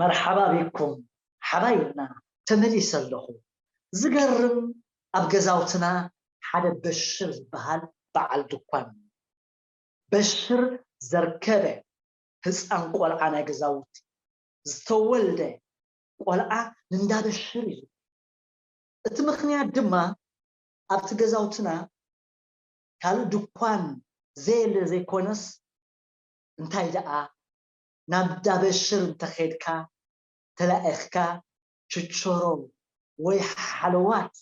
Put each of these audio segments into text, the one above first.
መርሓባ ቢኩም ሓባይብና ተመሊሰ ኣለኹ ዝገርም ኣብ ገዛውትና ሓደ በሽር ዝበሃል በዓል ድኳን በሽር ዘርከበ ህጻን ቆልዓ ናይ ገዛውቲ ዝተወልደ ቆልዓ ንንዳ በሽር እዩ እቲ ምኽንያት ድማ ኣብቲ ገዛውትና ካልእ ድኳን ዘየለ ዘይኮነስ እንታይ ደኣ ናብ እንዳ በሽር እንተ ኬድካ ተላኢኽካ ችቾሮ ወይ ሓለዋት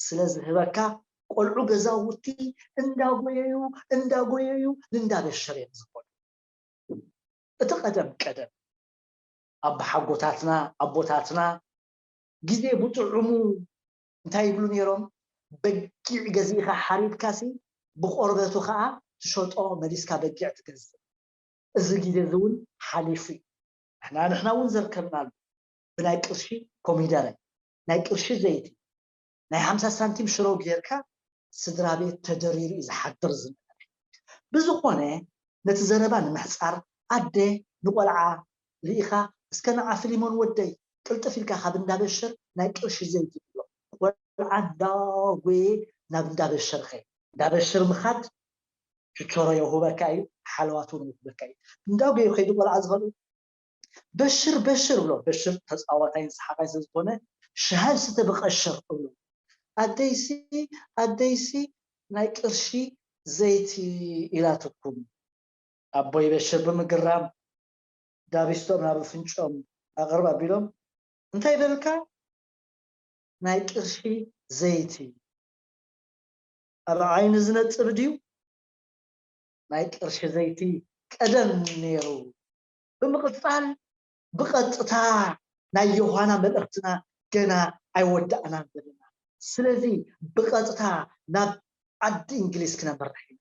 ስለ ዝህበካ ቆልዑ ገዛውቲ እንዳ ጎየዩ እንዳ ጎየዩ ንእንዳ በሽር እዮም ዝኸዱ። እቲ ቀደም ቀደም ኣቦሓጎታትና ኣቦታትና ግዜ ብጥዑሙ እንታይ ይብሉ ኔሮም በጊዕ ገዚእኻ ሓሪድካሲ ብቆርበቱ ከኣ ትሸጦ መሊስካ በጊዕ ትገዝእ እዚ ግዜ እዚ ውን ሓሊፉ ዩ ንሕና ንሕና ውን ዘርከብናሉ ብናይ ቅርሺ ኮሚደረ ናይ ቅርሺ ዘይቲ ናይ ሓምሳ ሳንቲም ሽሮ ጌርካ ስድራቤት ተደሪሩ ዩ ዝሓድር ዝነበረ ብዝኾነ ነቲ ዘረባ ንምሕጻር ኣደ ንቆልዓ ሪኢኻ እስከ ንዓ ፍሊሞን ወደይ ቅልጥፍ ኢልካ ካብ እንዳ በሽር ናይ ቅርሺ ዘይቲ ግዞ ቆልዓ እንዳጎየ ናብ እንዳ በሽር ኸይድ። እንዳ በሽር ምኻድ ችቾሮ የውህበካ ኢዩ ሓለዋት ውን የውህበካ ኢዩ እንዳጎየ ከይዱ ቆልዓ ዝኸልኡ በሽር በሽር እብሎ በሽር ተጻዋታይን ሰሓቃይን ስለ ዝኾነ ሻሂ ስተ ብቀሽር እብሎ ኣደይሲ ኣደይሲ ናይ ቅርሺ ዘይቲ ኢላትኩም ኣቦይ በሽር ብምግራም ዳቢስቶም ናብ ኣፍንጭኦም ኣቅርብ ኣቢሎም እንታይ በልካ ናይ ቅርሺ ዘይቲ ኣብ ዓይኒ ዝነጽር ድዩ ናይ ቅርሺ ዘይቲ ቀደም ኔሩ። ብምቅጻል ብቀጥታ ናይ ዮሃና መልእክትና ገና ኣይወዳእናን ዘለና ስለዚ ብቀጥታ ናብ ዓዲ እንግሊዝ ክነምርሕ ኢና።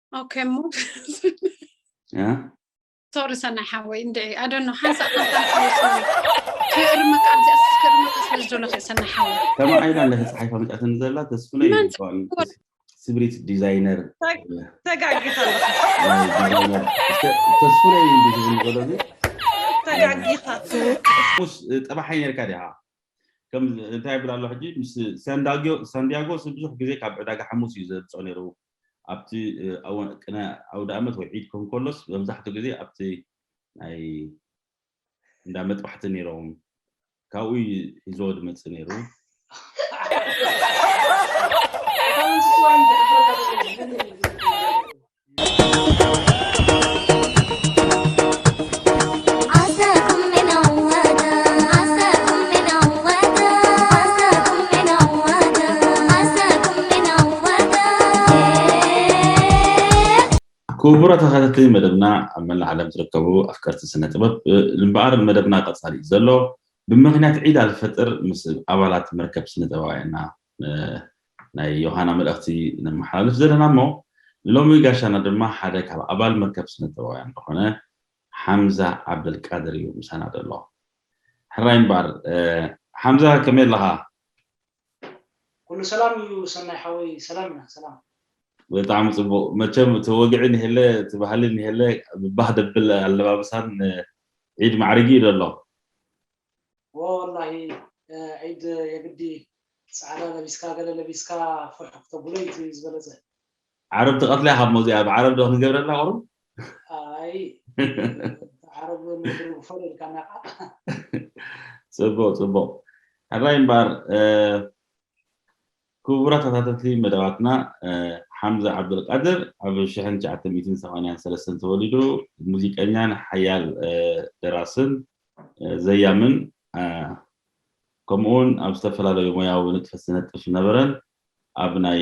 ኦኬ እሞ ሶሪ ሰናይ ሓወይ እንድዒ ኣደኖ ሓንሳእ ክእርመካ ኣብዚኣ ክእርመካ ስለ ዝደለኹ ሰናይ ሓወይ ተማዒላ እንዳ ተፃሒፋ መፅኣትን ዘላ ተስፍነ ስብሪት ዲዛይነር ተጋጊኻ ተስፍነ ዝብሎ ተጋጊኻ ጠባሓይ ነርካ ዲኻ ከም እንታይ ይብል ኣሎ ሕጂ ምስ ሳንዲያጎ ብዙሕ ግዜ ካብ ዕዳጋ ሓሙስ እዩ ዘምፅኦ ነይሩ ኣብቲ ኣዋን ቅነ ኣውደኣመት ወይ ዒድ ክኸውን ከሎስ መብዛሕትኡ ግዜ ኣብቲ ናይ እንዳ መጥባሕቲ ነይሮም ካብኡ እዩ ሒዝዎ ዝመጽእ ነይሩ። ክቡራ ተኸታተሊ መደብና ኣብ መላእ ዓለም ዝርከቡ ኣፍቀርቲ ስነ ጥበብ እምበኣር መደብና ቀፃሊ እዩ ዘሎ ብምክንያት ዒድ ኣልፈጥር ምስ ኣባላት መርከብ ስነ ጥበባውያንና ናይ ዮሃና መልእኽቲ ነመሓላልፍ ዘለና እሞ ሎሚ ጋሻና ድማ ሓደ ካብ ኣባል መርከብ ስነጥበባውያን ዝኾነ ሓምዛ ዓብደልቃድር እዩ ምሳና ዘሎ ሕራይ እምበኣር ሓምዛ ከመይ ኣለኻ ኩሉ ሰላም እዩ ሰናይ ሓወይ ሰላም ኢና ሰላም ብጣዕሚ ጽቡቅ መቸም እቲ ወግዒ ኒሄለ እቲ ባህሊ ኒሄለ ብባህ ደብል ኣለባብሳን ዒድ ማዕሪጊ እዩ ዘሎ ወላሂ ዒድ የግዲ ጻዕዳ ለቢስካ ገለ ለቢስካ ፎሕ ክተብሎ ኢዩ እቲ ዝበለጸ። ዓረብ ትቀትላ ኢካ እሞ እዚኣ ብ ዓረብ ዶ ክንገብረላ ቁሩብ። ኣይ ዓረብ ንድርቢ ፎል ኢልካና ኢካ። ጽቡቅ ጽቡቅ ሕራይ እምበኣር። ክቡራት ተኸታተልቲ መደባትና ሓምዛ ዓብደልቃድር ኣብ ሽሕን ትሽዓተ ሚእትን ሰማንያን ሰለስተን ተወሊዱ ሙዚቀኛን ሓያል ደራስን ዘያምን ከምኡውን ኣብ ዝተፈላለዩ ሞያዊ ንጥፈት ዝነጥፍ ዝነበረን ኣብ ናይ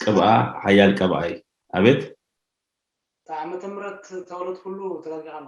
ቅብኣ ሓያል ቀብኣይ ኣቤት ዓመተ ምረት ተወለድኩሉ ተጠንቂቃ ኣላ።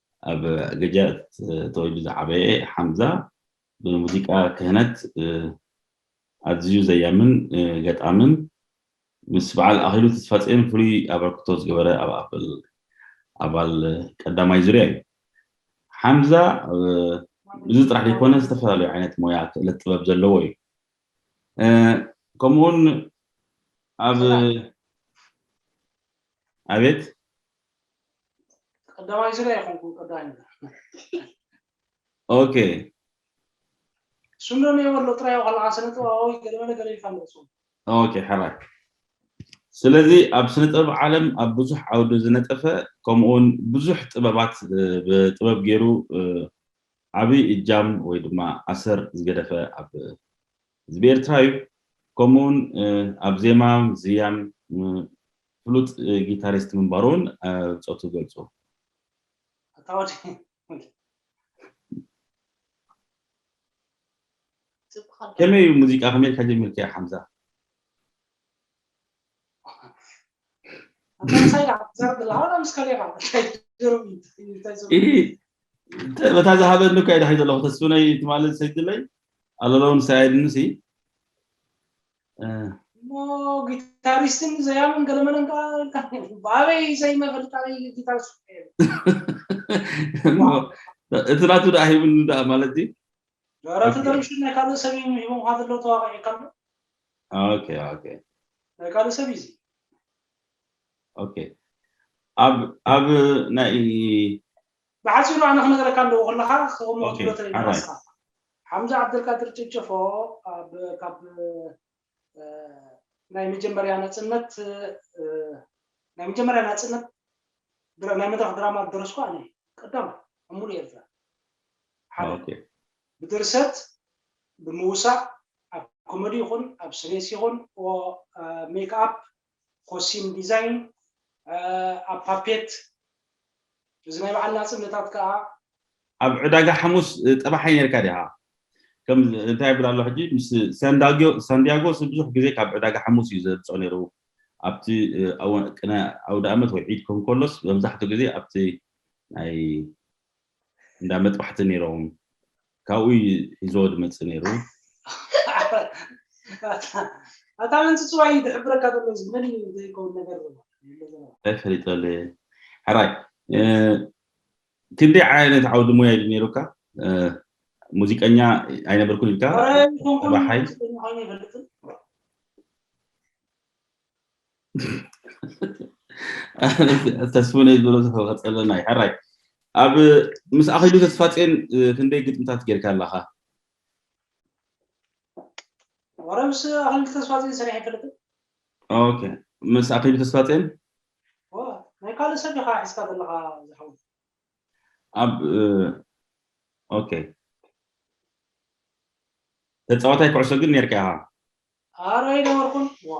ኣብ ገጃት ተወልጁ ዝዓበየ ሓምዛ ብሙዚቃ ክህነት ኣዝዩ ዘያምን ገጣምን ምስ በዓል ኣኽሊሉ ተስፋጽዮን ፍሉይ ኣበርክቶ ዝገበረ ኣባል ቀዳማይ ዙርያ እዩ። ሓምዛ እዚ ጥራሕ ዘይኮነ ዝተፈላለዩ ዓይነት ሞያ ክእለት ጥበብ ዘለዎ እዩ። ከምኡውን ኣብ ኣቤት ቀዳማይ ዙርያ ይኹንኩም ቀዳማይ ኦኬ ስምረን የበሎ ጥራይ ዋላ ስነ ጥበባዊ ገለመለ ገለ ይፈልጹ ኦኬ ሓራይ ስለዚ ኣብ ስነ ጥበብ ዓለም ኣብ ብዙሕ ዓውዲ ዝነጠፈ ከምኡውን ብዙሕ ጥበባት ብጥበብ ገይሩ ዓብይ እጃም ወይ ድማ ኣሰር ዝገደፈ ኣብ ህዝቢ ኤርትራ እዩ ከምኡውን ኣብ ዜማ ዝያን ፍሉጥ ጊታሪስት ምንባሩ'ውን ብጾቱ ይገልጹ። ኣታ ወዲ ከመይ እዩ ሙዚቃ ከመይ ኢልካ ጀሚርካዮ ሓምዛ? በታ ዝሃበኒ እኳ ይዳሒ ዘለኹ ተስፍነይ ትማሊ ሰጅለይ ኣለለውን ሰያድንሲ እሞ ጊታሪስትን ዘያምን ገለመለን ከዓ ብኣበይ ዘይመፈልጥ ኣበይ ጊታሪስት እሞ እቲ ናቱ ደኣ ሂብኒ ደኣ ማለት እዩ ደረቲ ደርብሽ ናይ ካልእ ሰብ እዩ ሂቦምካ ዘሎ ተዋቂዕካ ኣሎ ኦኬ ኦኬ ናይ ካልእ ሰብ እዩ እዚ ኦኬ ኣብ ኣብ ናይ ብሓጺሩ ኣነ ክነግረካ ኣለዎ ከለካ ክሰምዖ ትብሎ ተለና ንስካ። ሓምዛ ዓብደልቃድር ጨጨፎ ኣብ ካብ ናይ መጀመርያ ናጽነት ናይ መጀመርያ ናጽነት ናይ መድረኽ ድራማ ዝደረስኩ ኣነ እየ ቀዳማይ ኣብ ሙሉእ ኤርትራ ሓደ ብድርሰት ብምውሳእ ኣብ ኮሜዲ ይኹን ኣብ ስሬስ ይኹን ሜክኣፕ ኾሲም ዲዛይን ኣብ ፓፔት እዚ ናይ በዓል ናጽነታት ከኣ። ኣብ ዕዳጋ ሓሙስ ጠባሓይ ነርካ ዲኻ ከም እንታይ ይብል ኣሎ ሕጂ ምስ ሳንዳግዮ ሳንዲያጎ ብዙሕ ግዜ ካብ ዕዳጋ ሓሙስ እዩ ዘምጽኦ ነይሩ ኣብቲ ቅነ ኣውዳኣመት ወይ ዒድ ክኸውን ከሎስ መብዛሕትኡ ግዜ ኣብቲ ናይ እንዳ መጥባሕቲ ነይሮም ካብኡ እዩ ሒዝዎ ድመፅእ ነይሩ። ኣታ መን ጽጽዋይ እዩ ድሕብረካ ዘሎ እዚ መን እዩ ዘይከውን ነገር ዘሎ እንታይ ፈሊጠለ ሕራይ ክንደይ ዓይነት ዓውዲ ሙያ እዩ ነይሩካ ሙዚቀኛ ኣይነበርኩን ኢልካ ባሓይ ተስፉነይ ዝበሎ ዝኸፀለና እዩ ሕራይ ኣብ ምስ ኣኺሉ ተስፋፅን ክንደይ ግጥምታት ጌርካ ኣለኻ ወረ ምስ ኣኺሉ ተስፋፅን ስራሕ ይፈልጥ ኦኬ ምስ ኣኺሉ ተስፋፅን ናይ ካልእ ሰብ ኢኻ ሒዝካ ዘለኻ ዝሓው ኣብ ኦኬ ተፃዋታይ ኩዕሶ ግን ነርካ ኢኻ ኣረ ኣይነበርኩን ዋ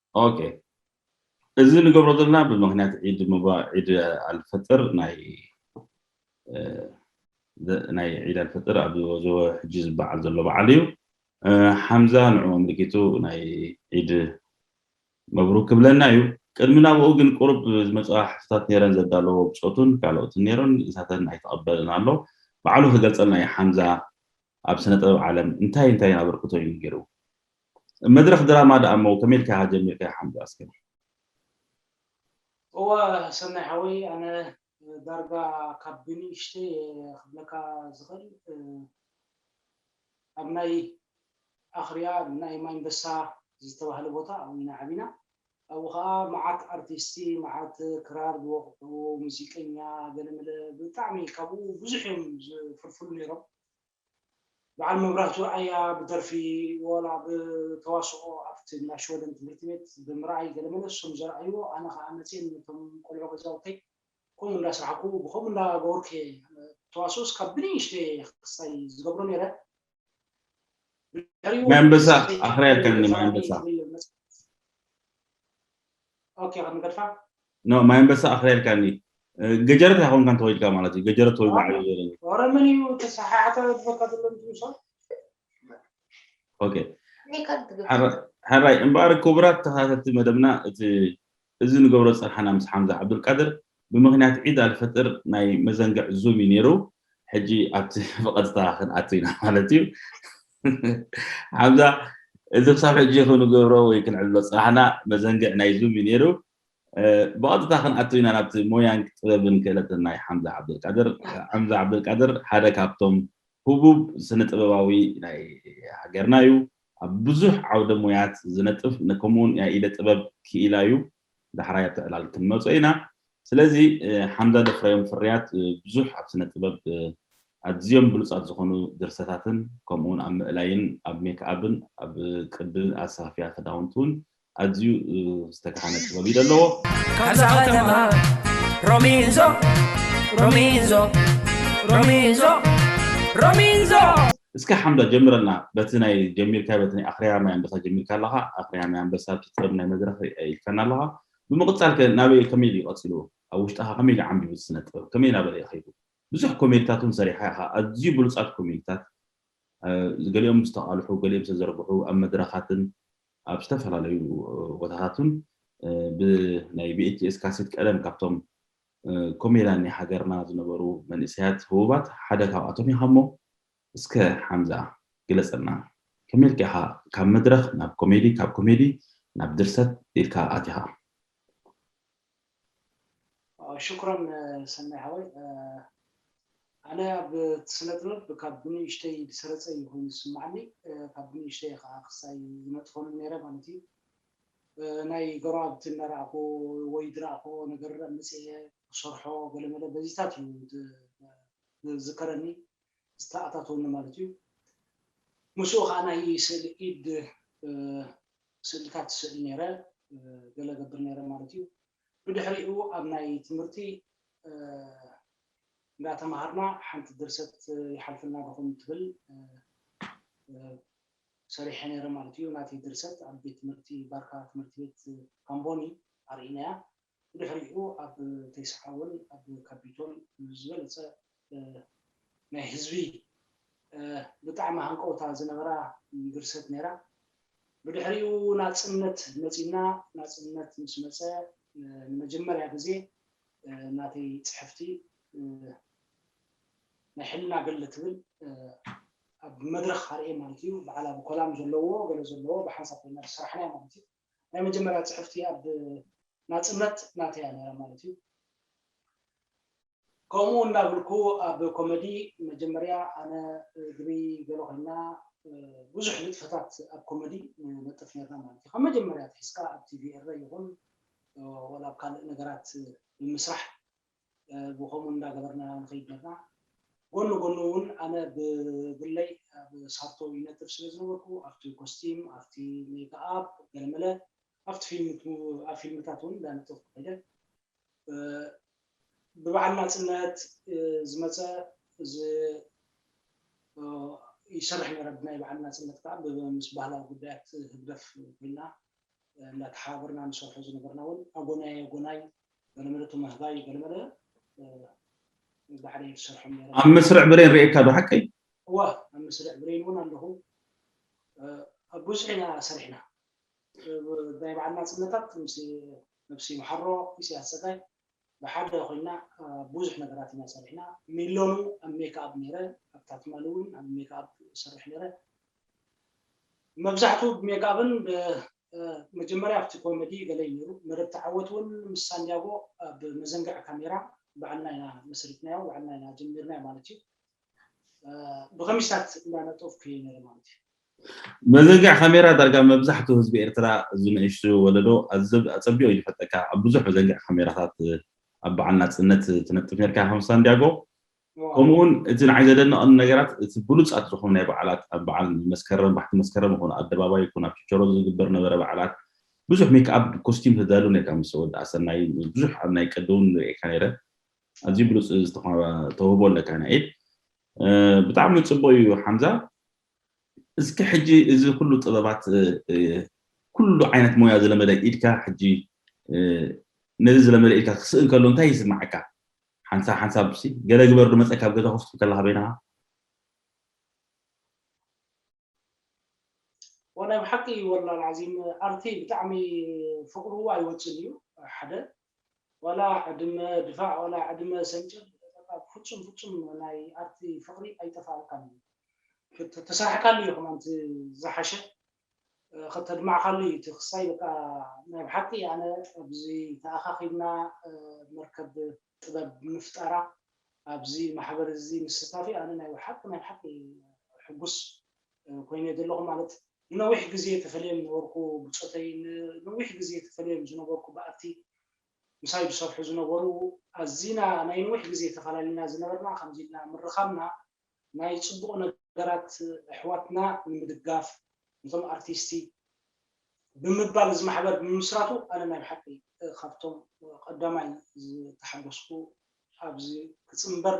ኦኬ እዚ ንገብሮ ዘለና ብምክንያት ዒድ ምባ ዒድ ኣልፈጥር ናይ ናይ ዒድ ኣልፈጥር ኣብ ዝወዘወ ሕጂ ዝበዓል ዘሎ በዓል እዩ ሓምዛ ንዑ ኣምልኪቱ ናይ ዒድ መብሩክ ክብለና እዩ ቅድሚ ናብኡ ግን ቁሩብ ዝመፅኣ ሕቶታት ነይረን ዘዳለዎ ብፆቱን ካልኦትን ነይሮን ንሳተን ኣይተቐበልን ኣሎ በዓሉ ክገልፀልና እዩ ሓምዛ ኣብ ስነ ጥበብ ዓለም እንታይን እንታይን ኣበርክቶ እዩ ጌሩ? መድረኽ ድራማ ደኣ እሞ ከመይ ኢልካ ኢኻ ጀሚርካዮ ሓምዱ ኣስከ? እወ ሰናይ ሓወይ ኣነ ዳርጋ ካብ ብንእሽተይ እየ ክብለካ ዝኽእል ኣብ ናይ ኣኽርያ ናይ ማይንበሳ ዝተባህለ ቦታ ኣብኡ ኢና ዓቢና ኣብኡ ከኣ መዓት ኣርቲስቲ መዓት ክራር ዝወቕዑ ሙዚቀኛ ገለመለ ብጣዕሚ ካብኡ ብዙሕ እዮም ዝፍልፍሉ ኔሮም በዓል መብራህቱ ኣርኣያ ብደርፊ ወላ ብተዋስኦ ኣብቲ ናይ ሽወደን ትምህርቲ ቤት ብምርኣይ ገለ መለ ስም ዘርኣይዎ ኣነ ከኣ መጽየ ነቶም ቆልዑ ገዛውተይ ከምኡ እንዳ ስራሕኩ ብከምኡ እንዳ ገበርኩ እየ ተዋስኦስ ካብ ብንእሽተይ እየ ክሳይ ዝገብሮ ነይረ ድሕሪኡ ማይ ኣንበሳ ኣኽርያትኒ ማይ ኣንበሳ ኦኬ ክንገድፋ ኖ ማይ ኣንበሳ ኣኽሪያልካኒ ገጀረት ኣይኮንካን ተወይድካ ማለት እዩ ገጀረት ተወይዱ ዓብዩ ዘለኒ ኦሮምን እዩ ተሰሓሓተ ዝበካ ዘሎ ምሳ ኦኬ ሕራይ እምበኣር ክቡራት ተኸታተልቲ መደብና እቲ እዚ ንገብሮ ፀርሓና ምስ ሓምዛ ዓብዱልቃድር ብምኽንያት ዒድ ኣልፍጥር ናይ መዘንግዕ ዙም እዩ ኔሩ ሕጂ ኣብቲ ብቐጥታ ክንኣቱ ኢና ማለት እዩ ሓምዛ እዚ ክሳብ ሕጂ ክንገብሮ ወይ ክንዕልሎ ጽናሕና መዘንግዕ ናይ ዙም እዩ ኔሩ ብቐጥታ ክንኣቱ ኢና ናብቲ ሞያን ጥበብን ክእለትን ናይ ሓምዛ ዓብደልቃድር ሓምዛ ዓብደልቃድር ሓደ ካብቶም ህቡብ ስነ ጥበባዊ ናይ ሃገርና እዩ ኣብ ብዙሕ ዓውደ ሞያት ዝነጥፍ ከምኡውን ናይ ኢደ ጥበብ ክኢላ እዩ ዳሕራይ ኣብቲ ዕላል ክንመጾ ኢና። ስለዚ ሓምዛ ዘፍረዮም ፍርያት ብዙሕ ኣብ ስነ ጥበብ ኣዝዮም ብሉጻት ዝኾኑ ድርሰታትን ከምኡውን ኣብ ምእላይን ኣብ ሜክኣብን ኣብ ቅዲ ኣሰፋፍያ ክዳውንቲ ውን ኣዝዩ ዝተጋሃነ ጥበብ እዩ ዘለዎ። ካብዛ ከተማ ሮሚንዞ ሮሚንዞ ሮሚንዞ ሮሚንዞ እስከ ሓምዳ ጀምረልና በቲ ናይ ጀሚርካዮ በቲ ናይ ኣኽርያ ማይ ኣንበሳ ጀሚርካ ኣለኻ ኣኽርያ ማይ ኣንበሳ ኣብቲ ጥበብ ናይ መድረኽ ርኣ ኢልካና ኣለኻ ብምቕጻል ከ ናበይ ኢዩ ከመይ ድዩ ቀጺልዎ ኣብ ውሽጥኻ ከመይ ድዩ ዓምቢቡ እቲ ስነ ጥበብ ከመይ ናበለ ኢዩ ከይዱ ብዙሕ ኮሜድታት ውን ሰሪሕኻ ኢኻ ኣዝዩ ብሉጻት ኮሜድታት ገሊኦም ዝተቓልሑ ገሊኦም ዝተዘርግሑ ኣብ መድረኻትን ኣብ ዝተፈላለዩ ቦታታትን ብ ናይ VHS ካሴት ቀደም ካብቶም ኮሜዳን ናይ ሃገርና ዝነበሩ መንእሰያት ህቡባት ሓደ ካብኣቶም ኢኻ'ሞ እስከ ሓምዛ ግለጸልና ከመይ ኢልካ ኢኻ ካብ መድረኽ ናብ ኮሜዲ ካብ ኮሜዲ ናብ ድርሰት ኢልካ ኣቲኻ? ሽክራን ሰናይ ሓወይ ኣነ ኣብ ስነ ጥበብ ካብ ብንእሽተይ ዝሰረጸ እዩ ኮይኑ ዝስማዓኒ ካብ ብንእሽተይ ከኣ ክሳይ ይነጥፎንን ነይረ ማለት እዩ ናይ ገሩኣብቲ እናረኣኹ ወይ ድረኣኹዎ ነገር ኣምጺኤ ክሰርሖ ገለመለ በዚታት እዩ ዝዝከረኒ ዝተኣታተወኒ ማለት እዩ። ምስኡ ከኣ ናይ ስእሊ ኢድ ስእልታት እስእል ነይረ ገለ እገብር ነይረ ማለት እዩ። ብድሕሪኡ ኣብ ናይ ትምህርቲ እንዳ ተማሃርና ሓንቲ ድርሰት ይሓልፍልና ዲኹም ትብል ሰሪሐ ነይረ ማለት እዩ። ናተይ ድርሰት ኣብ ቤት ትምህርቲ ባርካ ትምህርቲ ቤት ካምቦኒ ኣርኢናያ። ብድሕሪኡ ኣብ ተይስዓ እውን ኣብ ካፒቶል ብዝበለፀ ናይ ህዝቢ ብጣዕሚ ሃንቀውታ ዝነበራ ድርሰት ነይራ። ብድሕሪኡ ናጽነት መጺኡና፣ ናጽነት ምስ መጸ ንመጀመርያ ግዜ ናተይ ጽሕፍቲ ናይ ሕልና ገድሊ ትብል ኣብ መድረኽ ኣርእየ ማለት እዩ። በዓል ኣብ ኮላም ዘለዎ ገለ ዘለዎ ብሓንሳብ ኮይና ዝሰራሕናያ ማለት እዩ። ናይ መጀመርያ ጽሕፍቲ ኣብ ናጽነት ናተይ እያ ነይራ ማለት እዩ። ከምኡ እናብልኩ ኣብ ኮመዲ መጀመርያ ኣነ ግሪ ገለ ኮይና ብዙሕ ንጥፈታት ኣብ ኮመዲ ንነጥፍ ነርና ማለት እዩ። ካብ መጀመርያ ኣትሒዝካ ኣብ ቲቪ ኤረ ይኹን ወላ ኣብ ካልእ ነገራት ብምስራሕ ብከምኡ እንዳገበርና ንከይድ ኔርና። ጎኑ ጎኑ ውን ኣነ ብግለይ ኣብ ሳርቶ ይነጥፍ ስለ ዝነበርኩ ኣብቲ ኮስቲም፣ ኣብቲ ሜክኣፕ ገለመለ ኣብቲ ፊልም ኣብ ፊልምታት ውን እንዳነጠፍኩ ከይደ። ብበዓል ናጽነት ዝመጸ ይሰርሕ ኔረ። ብናይ በዓል ናጽነት ከኣ ምስ ባህላዊ ጉዳያት ህግደፍ ኮይና እንዳተሓባበርና ንሰርሖ ዝነበርና ውን ኣጎናይ ኣጎናይ ኣብ መስርዕ ብሬን ርኤካ ዶ ሓቀይ? እወ ኣብ መስርዕ ብሬን እውን ኣለኹ። ኣብ ብዙሕ ኢና ሰሪሕና ናይ በዓል ናፅነታት ምስ ነብሲ መሓሮ ኢሳያስ ፀጋይ ብሓደ ኮይና ብዙሕ ነገራት ኢና ሰሪሕና። ሚሎኑ ኣብ ሜክኣብ ነይረ፣ ኣብታ ትማሊ እውን ኣብ ሜክኣብ እሰርሕ ነይረ። መብዛሕትኡ ብሜክኣብን መጀመርያ ኣብቲ ኮመዲ ገለ እዩ ነይሩ፣ መደብ ተዓወት እውን ምስ ሳንድያጎ ኣብ መዘንግዕ ካሜራ ባዕልና ኢና መስሪትናዮ፣ ባዕልና ኢና ጀሚርናዮ ማለት እዩ። ብኸሚስታት እንዳነጠፍኩ እየ ነይረ ማለት እዩ። መዘንግዕ ካሜራ ዳርጋ መብዛሕትኡ ህዝቢ ኤርትራ እዚ ንእሽቱ ወለዶ ኣጸቢቑ እዩ ዝፈልጠካ። ኣብ ብዙሕ መዘንግዕ ካሜራታት ኣብ ባዕል ናጽነት ትነጥፍ ነርካ ከም ሳንድያጎ ከምኡውን እቲ ንዓይ ዘደነቐኒ ነገራት እቲ ብሉጻት ዝኾኑ ናይ በዓላት ኣብ በዓል መስከረም ባሕቲ መስከረም ይኹን ኣደባባይ ይኹን ኣብ ችቸሮ ዝግበር ነበረ በዓላት ብዙሕ ሜክኣብ ኮስቲም ተዳሉ ኔርካ ምስ ወዲ ኣሰናይ ምስ ብዙሕ ኣብ ናይ ቅዲ ውን ርእየካ ኔረ ኣዝዩ ብሉጽ ተውህቦ ኣለካ ናይ ኢድ ብጣዕሚ ጽቡቕ እዩ ሓምዛ እስኪ ሕጂ እዚ ኩሉ ጥበባት ኩሉ ዓይነት ሞያ ዝለመደ ኢድካ ሕጂ ነዚ ዝለመደ ኢድካ ክስእን ከሎ እንታይ ይስምዓካ ሓንሳብ ሓንሳብ ሲ ገለ ግበር ዶ መጸካ ኣብ ገዛ ኮፍ ትብል ከለካ በይንካ። ዋላ ብሓቂ እዩ ወላል ዓዚም ኣርቲ ብጣዕሚ ፍቅሩ ኣይወጽን እዩ ሓደ ዋላ ዕድመ ድፋዕ ዋላ ዕድመ ሰንጭር በቃ ብፍጹም ፍጹም ናይ ኣርቲ ፍቅሪ ኣይጠፋኣልካን እዩ ተሰርሕካሉ እዩ ከማን ዝሓሸ ከተድማዕካሉ እዩ እቲ ክሳይ በቃ ናይ ብሓቂ ኣነ ኣብዚ ተኣኻኺብና መርከብ ጥበብ ብምፍጣራ ኣብዚ ማሕበር እዚ ምስታፊ ኣነ ናይ ብሓቂ ናይ ብሓቂ ሕጉስ ኮይነ እየ ዘለኹ ማለት ንነዊሕ ግዜ ተፈልዮም ነበርኩ ብጾተይ ንነዊሕ ግዜ ተፈልዮም ዝነበርኩ በኣቲ ምሳይ ዝሰርሑ ዝነበሩ ኣዚና ናይ ነዊሕ ግዜ ተፈላለና ዝነበርና ከምዚ ኢልና ምርኻብና ናይ ጽቡቅ ነገራት ኣሕዋትና ንምድጋፍ ነቶም ኣርቲስቲ ብምባል እዚ ማሕበር ብምምስራቱ ኣነ ናይ ብሓቂ ካብቶም ቀዳማይ ዝተሓጎስኩ ኣብዚ ክጽንበር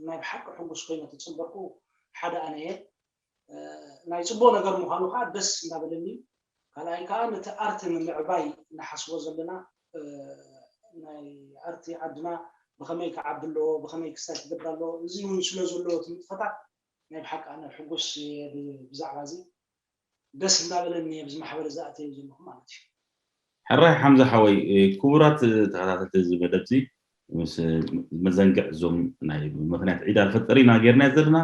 ናይ ብሓቂ ሕጉስ ኮይነ ተጸበርኩ ሓደ ኣነ እየ ናይ ጽቡቅ ነገር ምዃኑ ከኣ ደስ እንዳበለኒ ካልኣይ ከኣ ነቲ ኣርት ንምዕባይ ንሓስቦ ዘለና ናይ ኣርት ዓድና ብኸመይ ክዓቢ ኣለዎ ብኸመይ ክሳይ ክገብር ኣለዎ እዚ ውን ስለ ዘለዎ እቲ ንጥፈታት ናይ ብሓቂ ኣነ ሕጉስ እየ ብዛዕባ እዚ ደስ እንዳበለኒ እየ ኣብዚ ማሕበር እዚ ኣትየ ዘለኹ ማለት እዩ። ሕራይ ሓምዛ ሓወይ ክቡራት ተኸታተልቲ እዚ መደብዚ ምስ መዘንግዕ እዞም ናይ ምክንያት ዒድ ኣልፈጥር ኢና ጌርናዮ ዘለና።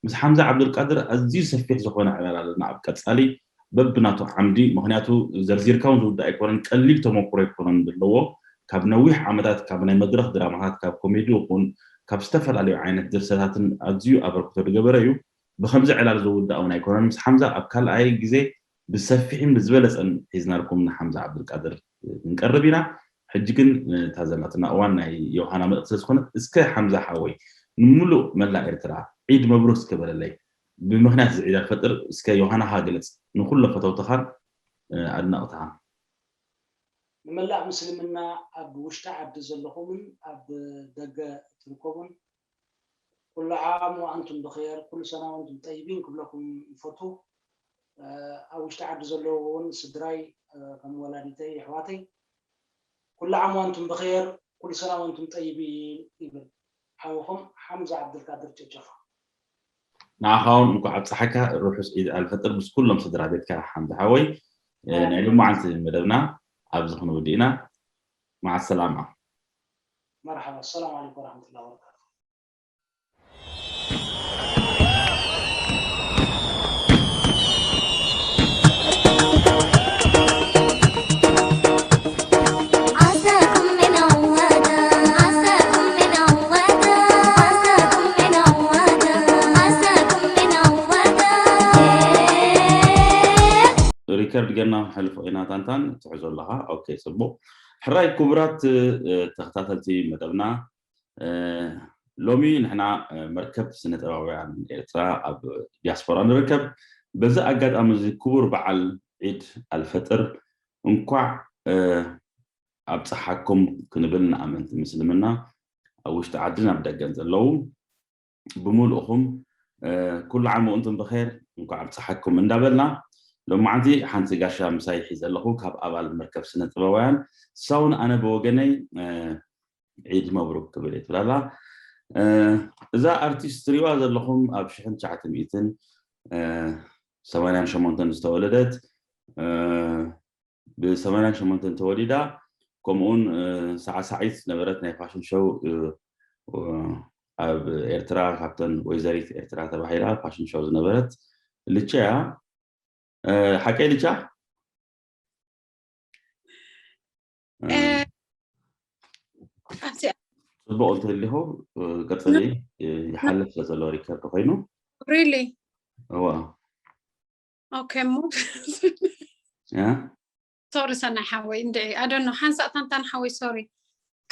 ምስ ሓምዛ ዓብዱልቃድር ኣዝዩ ሰፊሕ ዝኾነ ዕላል ኣለና ኣብ ቀጻሊ በብናቱ ዓምዲ ምክንያቱ ዘርዚርካ ውን ዝውዳእ ኣይኮነን ቀሊል ተሞኩሮ ኣይኮነን ዘለዎ ካብ ነዊሕ ዓመታት ካብ ናይ መድረኽ ድራማታት ካብ ኮሜዲ ይኹን ካብ ዝተፈላለዩ ዓይነት ድርሰታትን ኣዝዩ ኣበርክቶ ዝገበረ እዩ ብኸምዚ ዕላል ዝውዳእ ውን ኣይኮነን ምስ ሓምዛ ኣብ ካልኣይ ግዜ ብሰፊሕን ብዝበለጸን ሒዝናልኩም ንሓምዛ ዓብዱልቃድር ክንቀርብ ኢና ሕጂ ግን እታ ዘላትና እዋን ናይ ዮውሃና መልእኽቲ ስለ ዝኾነት እስከ ሓምዛ ሓወይ ንሙሉእ መላእ ኤርትራ ዒድ መብሩክ እስከ በለለይ ብምኽንያት እዚ ዒድ ኣልፈጥር እስከ ዮውሃናኻ ግለጽ ንኹሎም ፈተውትኻን ኣድነቕትኻን። ንመላእ ምስልምና ኣብ ውሽጢ ዓዲ ዘለኹምን ኣብ ደገ እትርከቡን ኩሉ ዓም ወኣንቱም ብኼር ኩሉ ሰና ወኣንቱም ጠይቢን ክብለኩም ይፈቱ ኣብ ውሽጢ ዓዲ ዘለዉ ውን ስድራይ ከም ወላዲተይ የሕዋተይ ኩሉ ዓም ወኣንቱም ብኼር ኩሉ ሰና ወኣንቱም ጠይቢን ይብል ሓውኹም ሓምዛ ዓብደልቃድር ጨጨፋ። ንዓኻ ውን እንኳዕ ኣብፀሐካ ርሑስ ዒድ ኣልፈጥር ምስ ኩሎም ስድራ ቤትካ ሓምዛ ሓወይ ናይ ሎማዓንቲ መደብና ኣብዚ ክንውድእ ኢና ማዓሰላማ። መርሓባ ኣሰላሙ ዓለይኩም ወራህመቱላሂ ወበረካቱ። ሪከርድ ገርና ክንሕልፎ ኢና ታንታን ትሕዞ ኣለኻ ኦኬ ጽቡቕ ሕራይ ኩቡራት ተክታተልቲ መደብና ሎሚ ንሕና መርከብ ስነጥበባውያን ኤርትራ ኣብ ዲያስፖራ ንርከብ በዚ ኣጋጣሚ እዚ ኩቡር በዓል ዒድ ኣልፈጥር እንኳዕ ኣብጽሓኩም ክንብል ንኣመንቲ ምስልምና ኣብ ውሽጢ ዓድን ኣብ ደገን ዘለዉ ብምሉእኹም ኩሉ ዓም ወእንቱም ብኼር እንኳዕ ኣብፀሓኩም እንዳበልና ሎማዓንቲ ሓንቲ ጋሻ ምሳይ ሒዘ ኣለኹ ካብ ኣባል መርከብ ስነ ጥበባውያን ሳውን ኣነ ብወገነይ ዒድ መብሩክ ክብል እየ ትብላላ እዛ ኣርቲስት ትሪእዋ ዘለኹም ኣብ ሽሕን ትሽዓተ ሚእትን ሰማንያን ሸሞንተን ዝተወለደት ብ ሰማንያ ሸሞንተ ተወሊዳ ከምኡውን ሳዕሳዒት ዝነበረት ናይ ፋሽን ሸው ኣብ ኤርትራ ካብተን ወይዘሪት ኤርትራ ተባሂላ ፋሽን ሸው ዝነበረት ልቻ እያ ሓቀይ ልቻ ፅቡቅ እንተሊኹ ቀፅሊ ይሓልፍ ስለዘሎ ሪከርድ ኮይኑ ሪሊ እዋ ኦኬ እሞ ሶሪ ሰናይ ሓወይ እንድዒ ኣደኖ ሓንሳእ ታንታን ሓወይ ሶሪ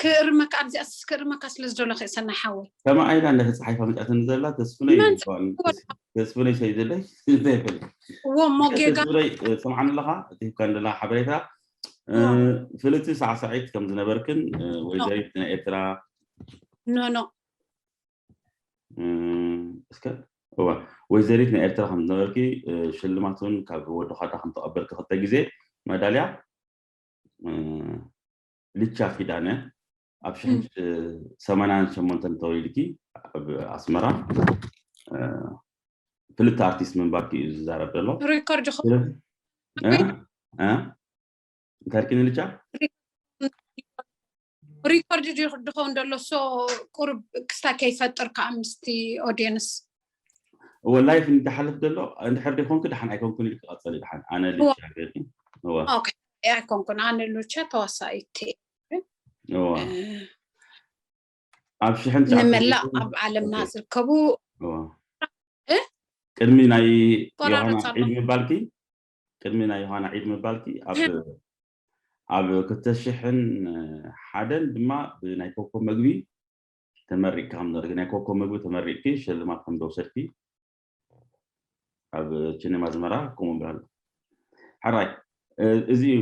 ክእርመካ ኣብዚኣ ክእርመካ ስለ ዝደለኹ እዩ ሰናይ ሓወይ ከማ ኣይላ እንዳ ተፃሓይፋ መፅኣትኒ ዘላ ተስፍነይ ተስፍነይ ሰይ ዘለይ እንታይ ይፈል እዎ እሞ ጌጋ ተስፍነይ ሰምዓኒ ኣለኻ እቲ ሂብካ እንደላ ሓበሬታ ፍልቲ ሳዕሳዒት ከም ዝነበርክን ወይዘሪት ናይ ኤርትራ ኖ ኖ እስከ እወ ወይዘሪት ናይ ኤርትራ ከም ዝነበርኪ ሽልማት እውን ካብ ወዲ ኳዳ ከም ተቐበልኪ ክልተ ግዜ መዳልያ ልቻ ኪዳነ ኣብ ሽሕን ሰማንያን ሸሞንተን ተወሊድኪ ኣብ ኣስመራ ፍልጥቲ ኣርቲስት ምንባርኪ እዩ ዝዛረብ ዘሎ ሪኮርድ እንታይ ርኪ ንልቻ ሪኮርድ ድኸውን ደሎ ሶ ቁሩብ ክስታይ ከይፈጥር ከዓ ምስቲ ኦዲየንስ እወ ላይፍ እንዳሓልፍ ደሎ እንድሕር ደይኮንኩ ድሓን ኣይኮንኩን ኢልክ ቀፀሊ ድሓን ኣነ ልቻ ገርኪ እወ ኦኬ ኣይኮንኩን ኣነ ሉቻ ተዋሳኢት እወ ኣብ ሽሕን ትሽዓተ ንመላእ ሚእቲ- ኣብ ዓለምና ኦኬ። ዝርከቡ እወ እ? ቅድሚ ናይ ዮሃና ቆራረፃ ዒድ ምባልኪ ቅድሚ ናይ ዮሃና ዒድ ምባልኪ ኣብ ኣብ ክልተ ሽሕን ሓደን ድማ ብናይ ኮኮብ መግቢ ተመሪቕኪ ከም ዝነበርኪ ናይ ኮኮብ መግቢ ተመሪቕኪ ሽልማት ከም ዝወሰድኪ ኣብ ችኔም ኣዝመራ ከምኡ ብላ ኣሎ ሕራይ እዚ እዩ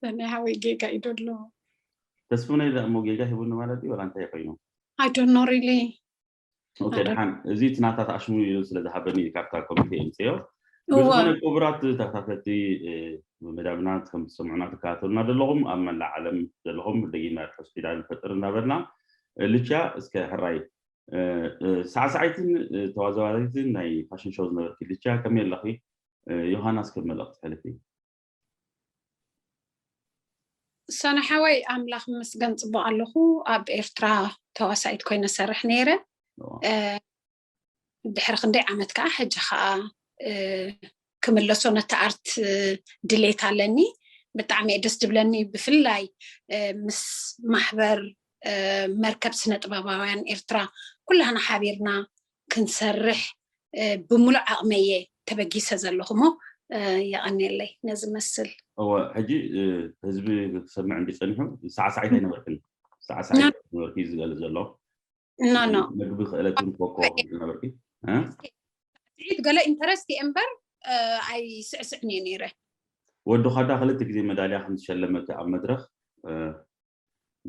ሰናይ ሓወይ ጌጋ እዩ ደሎ ተስፍነ ኢለ እሞ ጌጋ ሂቡኒ ማለት እዩ ወላ እንታይ ኮይኑ ኣይዶኖ ሪሊ ኦኬ ሓደ ድሓን እዚ እቲ ናታት ኣሽሙ ኢሉ ስለ ዝሃበኒ እዩ ካብታ ኮሚቴ የምፅዮ እወ ብዝኾነ ክቡራት ተኸታተልቲ እ፣ መዳብና ከም ትሰምዑና ትከታተሉና ዘለኹም ኣብ መላእ ዓለም ዘለኹም ደጊመ ርሑስ ኪዳን ፈጥር እናበልና እ፣ ልቻ እስከ ሕራይ እ፣ እ፣ ሳዕሳዒትን እ፣ ተዋዛዋሪትን ናይ ፋሽን ሾው ዝነበርኪ ልቻ ከመይ ኣለኺ እ፣ ዮሃናስ ከም መልእኽቲ ሕልፊ ሰነ ሓወይ ኣምላኽ ምስገን ፅቡቅ ኣለኹ ኣብ ኤርትራ ተዋሳኢት ኮይነ ሰርሕ ነይረ ድሕሪ ክንደይ ዓመት ከዓ ሕጂ ከዓ ክምለሶ ነቲ ኣርት ድሌት ኣለኒ ብጣዕሚ እየ ደስ ድብለኒ ብፍላይ ምስ ማሕበር መርከብ ስነ ጥበባውያን ኤርትራ ኩላህና ሓቢርና ክንሰርሕ ብሙሉእ ዓቕመይ እየ ተበጊሰ ዘለኹ'ሞ የቐንየለይ ነዚ መስል። እወ ሕጂ ህዝቢ ክሰምዕ እንድዩ ጸኒሑ ሳዕሳዒት ኣይነበርክን ሳዕሳዒት ኣይነበርክን እዩ ዝገልጽ ዘሎ ኖ ኖ መግቢ ክእለት እውን ኮኮ ዝነበርኪ ሳዕስዒት ገለ ኢንተረስት እየ እምበር ኣይስዕስዕን እየ ነይረ ወዲ ኳዳ ክልተ ግዜ መዳልያ ከም ዝሸለመት ኣብ መድረኽ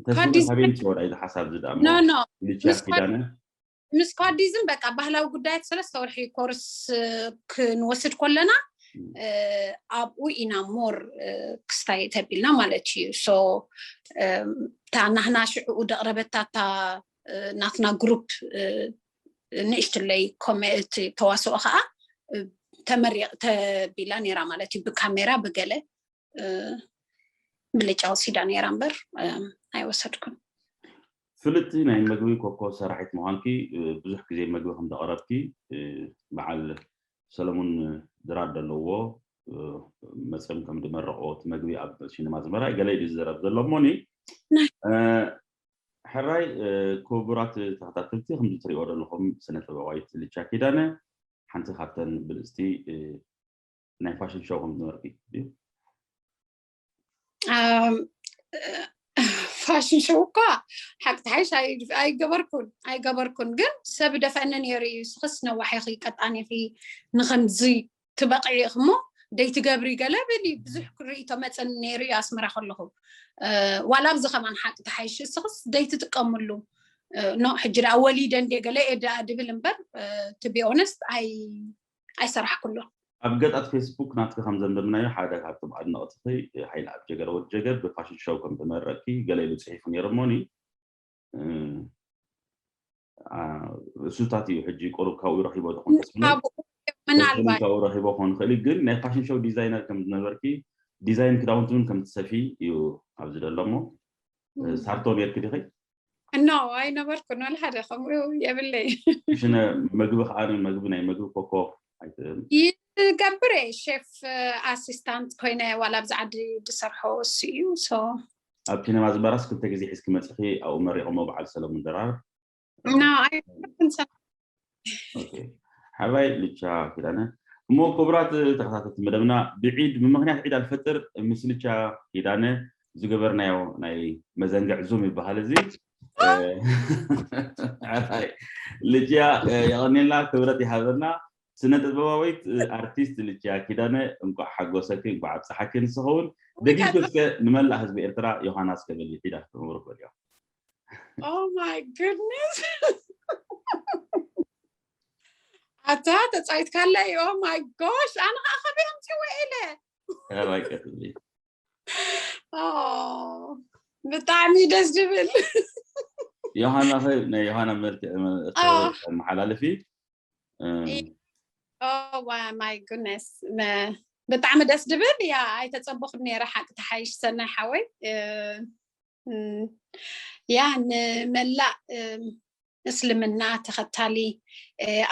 ተስፋ ካቢን ተወዳይ ዝሓሳብ ዝዳሞ ልቻ ኪዳነ ምስ ኳዲዝም በቃ ባህላዊ ጉዳያት ሰለስተ ወርሒ ኮርስ ክንወስድ ኮለና ኣብኡ ኢና ሞር ክስታይ ተቢልና ማለት እዩ እታ ናህና ሽዕኡ ደቕረበታ እታ ናትና ግሩፕ ንእሽትለይ ኮሜት ተዋስኦ ከዓ ተመሪቕ ተቢላ ነይራ ማለት እዩ ብካሜራ ብገለ ብልጫ ወሲዳ ነይራ እምበር ኣይወሰድኩን ፍልጥቲ ናይ መግቢ ኮኮብ ሰራሒት ምዃንኪ ብዙሕ ግዜ መግቢ ከም ዘቕረብኪ በዓል ሰለሙን ድራር ዘለዎ መጽም ከም ድመረቆ እቲ መግቢ ኣብ ሽንማ ዝመራይ ገለ ኢሉ ዝዘረብ ዘሎ እሞኒ ሕራይ ክቡራት ተኸታተልቲ ከምዚ ትሪኦ ዘለኹም ስነ ጥበባዊት ልቻ ኪዳነ ሓንቲ ካብተን ብልጽቲ ናይ ፋሽን ሾው ከም ዝመርቂ እዩ ፋሽን ሸው እኳ ሓቂ ትሓይሽ ኣይገበርኩን ኣይገበርኩን ግን ሰብ ደፈኒ ነይሩ እዩ ስኽስ ነዋሕ ኢኺ ቀጣን ኢኺ ንከምዚ ትበቕዒ ኢኺ እሞ ደይትገብሪ ገለ ብል እዩ ብዙሕ ርእቶ መፅን ነይሩ እዩ ኣስመራ ከለኹ ዋላ ኣብዚ ከማን ሓቂ ትሓይሽ ስኽስ ደይትጥቀምሉ ኖ ሕጂ ደኣ ወሊደ እንዴ ገለ እየ ደኣ ድብል እምበር ትቢ ኦነስት ኣይ ኣይሰራሕኩሉን። ኣብ ገጻት ፌስቡክ ናትኪ ከም ዘንበብናዮ ሓደ ካብቶም ኣድነቕትኺ ሃይልኣብ ጀገር ወድ ጀገር ብፋሽን ሸው ከም ተመረቕኪ ገለ ኢሉ ጽሒፉ ነይሩ እሞኒ እሱታት እዩ ሕጂ ቁሩብ ካብኡ ረኺቦ ተኾን ተስፋ ምናልባት ካብኡ ረኺቦ ክኾን ይኽእል እዩ ግን ናይ ፋሽን ሸው ዲዛይነር ከም ዝነበርኪ ዲዛይን ክዳውንቲ እውን ከም ትሰፊ እዩ ኣብዚ ደሎ እሞ ሳርቶ ነርኪ ዲኺ እኖ ኣይነበርኩን ወላ ሓደ ከምኡ የብለይ ሽነ መግቢ ከዓ መግቢ ናይ መግቢ ኮኮ ኣይትእም ይገብር እየ ሼፍ ኣሲስታንት ኮይነ ዋላ ኣብዚ ዓዲ ዝሰርሖ እሱ እዩ ኣብ ኪነማ ዝመራስ ክልተ ግዜ ሒዝኪ መፅኺ ኣብኡ መሪቖሞ በዓል ሰለሙን ድራር ኣይነበርኩን ሓባይ ልቻ ኪዳነ እሞ ክቡራት ተኸታተልቲ መደብና ብዒድ ብምክንያት ዒድ ኣልፈጥር ምስ ልቻ ኪዳነ ዝገበርናዮ ናይ መዘንግዕ ዙም ይበሃል እዚ ልጅያ የቀኒልና ክብረት ይሃበና ስነ ጥበባዊት ኣርቲስት ልጅያ ኪዳነ እንኳዕ ሓጎሰኪ እንኳዕ ኣብፀሓኪ ንስኸውን ደጊም እስከ ንመላእ ህዝቢ ኤርትራ ዮሃናስ ከበል ዒድ ኣክብሩ በልዮ Oh my goodness. ኣታ ተፃይት ካለ ኦ ማይ ጎሽ ኣነ ከዓ ከመይ ኣምፅዎ ኢለ ብጣዕሚ ደስ ዝብል ዮሃና ኸ ናይ ዮሃና መልክዕ መሓላለፊ ማይ ጉነስ ብጣዕሚ ደስ ዝብል ያ ኣይተፀበኹን ነረ ሓቂ ተሓይሽ ሰናይ ሓወይ ያ ንመላእ እስልምና ተኸታሊ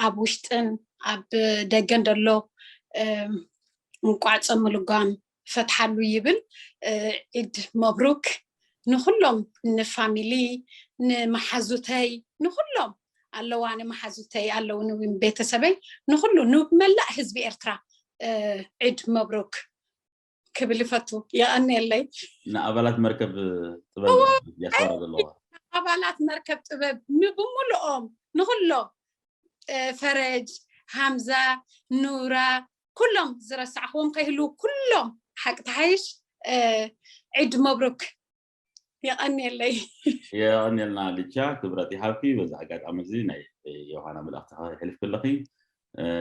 ኣብ ውሽጥን ኣብ ደገን ደሎ እንቋዕ ፆም ልጓም ፈትሓሉ ይብል ዒድ መብሩክ ንኩሎም ንፋሚሊ ንመሓዙተይ ንኩሎም ኣለዋ ንመሓዙተይ ኣለዉ ቤተሰበይ ንኩሉ ንመላእ ህዝቢ ኤርትራ ዒድ መብሩክ ክብል ይፈቱ የቀኒየለይ ንኣባላት መርከብ ጥበብ እዋ፣ ዲያስፖራ ዘለዋ ኣባላት መርከብ ጥበብ ንብምልኦም ንኩሎም እ፣ ፈረጅ ሃምዛ ኑራ ኩሎም ዝረሳዕክዎም ከይህልው ኩሎም ሓቂ ተሓይሽ እ፣ ዒድ መብሩክ የቐንየለይ የቐንየልና ልቻ ክብረት ይሃብኪ በዚ ኣጋጣሚ እዚ ናይ ዮሃና መልእኽቲ ክሕልፍ ከለኺ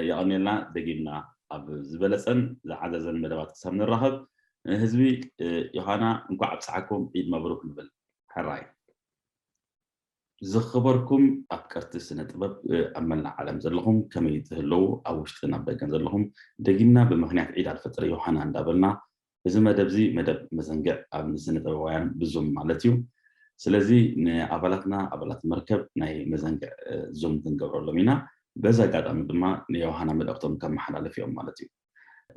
የቐንየልና ደጊምና ኣብ ዝበለፀን ዝዓዘዘን መደባት ክሳብ ንራኸብ ህዝቢ ዮሃና እንኳዕ ኣብፀሓኩም ዒድ መብሩክ ንብል ሕራይ ዝኽበርኩም ኣፍቀርቲ ስነ ጥበብ ኣብ መላእ ዓለም ዘለኹም ከመይ ትህለዉ ኣብ ውሽጥን ኣብ ደገን ዘለኹም ደጊምና ብምክንያት ዒድ ኣልፈጥሪ ዮሃና እንዳበልና እዚ መደብዚ መደብ መዘንግዕ ኣብ ስነጥበባውያን ብዙም ማለት እዩ ስለዚ ንኣባላትና ኣባላት መርከብ ናይ መዘንግዕ ዙም ክንገብረሎም ኢና በዚ ኣጋጣሚ ድማ ንዮውሃና መልእኽቶም ከመሓላልፍ እዮም ማለት እዩ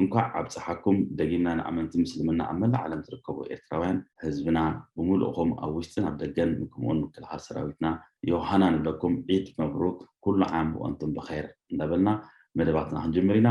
እንኳዕ ኣብፀሓኩም ደጊምና ንኣመንቲ ምስልምና ኣብ መላእ ዓለም ትርከቡ ኤርትራውያን ህዝብና ብምሉእኹም ኣብ ውሽጥን ኣብ ደገን ንክምኡን ምክልኻል ሰራዊትና ዮውሃና ንብለኩም ዒድ መብሩክ ኩሉ ዓም ወኣንቱም ብኸይር እንዳበልና መደባትና ክንጅምር ኢና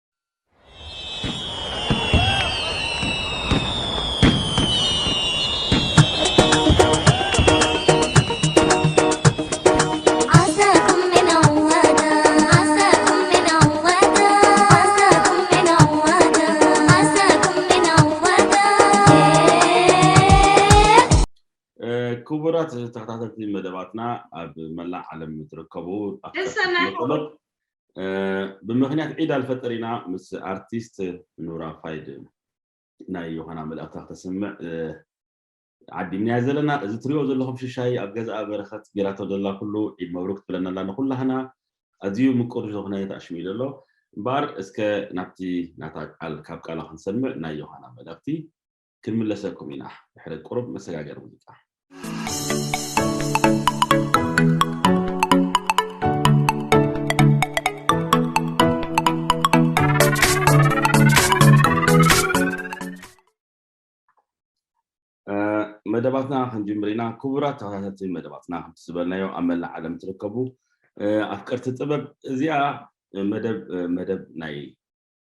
ክቡራት ተኸታተልቲ መደባትና ኣብ መላእ ዓለም እትርከቡ ደሰናይ ብምክንያት ዒድ ኣልፈጥር ኢና ምስ ኣርቲስት ኑራ ፋይድ ናይ ዮሃና መልእኽታ ክተስምዕ ዓዲምናያ ዘለና እዚ ትሪኦ ዘለኹም ሽሻይ ኣብ ገዛኣ በረኸት ጌራቶ ዘላ ኩሉ ዒድ መብሩክ ትብለና ኣላ ንኩላህና ኣዝዩ ምቁር ዝኾነ ተኣሽሚሉ ኣሎ እምበኣር እስከ ናብቲ ናታ ቃል ካብ ቃላ ክንሰምዕ ናይ ዮሃና መልእኽቲ ክንምለሰኩም ኢና ድሕሪ ቁሩብ መሰጋገሪ ሙዚቃ። መደባትና ክንጅምር ኢና ክቡራት ተኸታተልቲ መደባትና ከምቲ ዝበልናዮ ኣብ መላእ ዓለም ትርከቡ ኣፍቀርቲ ጥበብ እዚኣ መደብ መደብ ናይ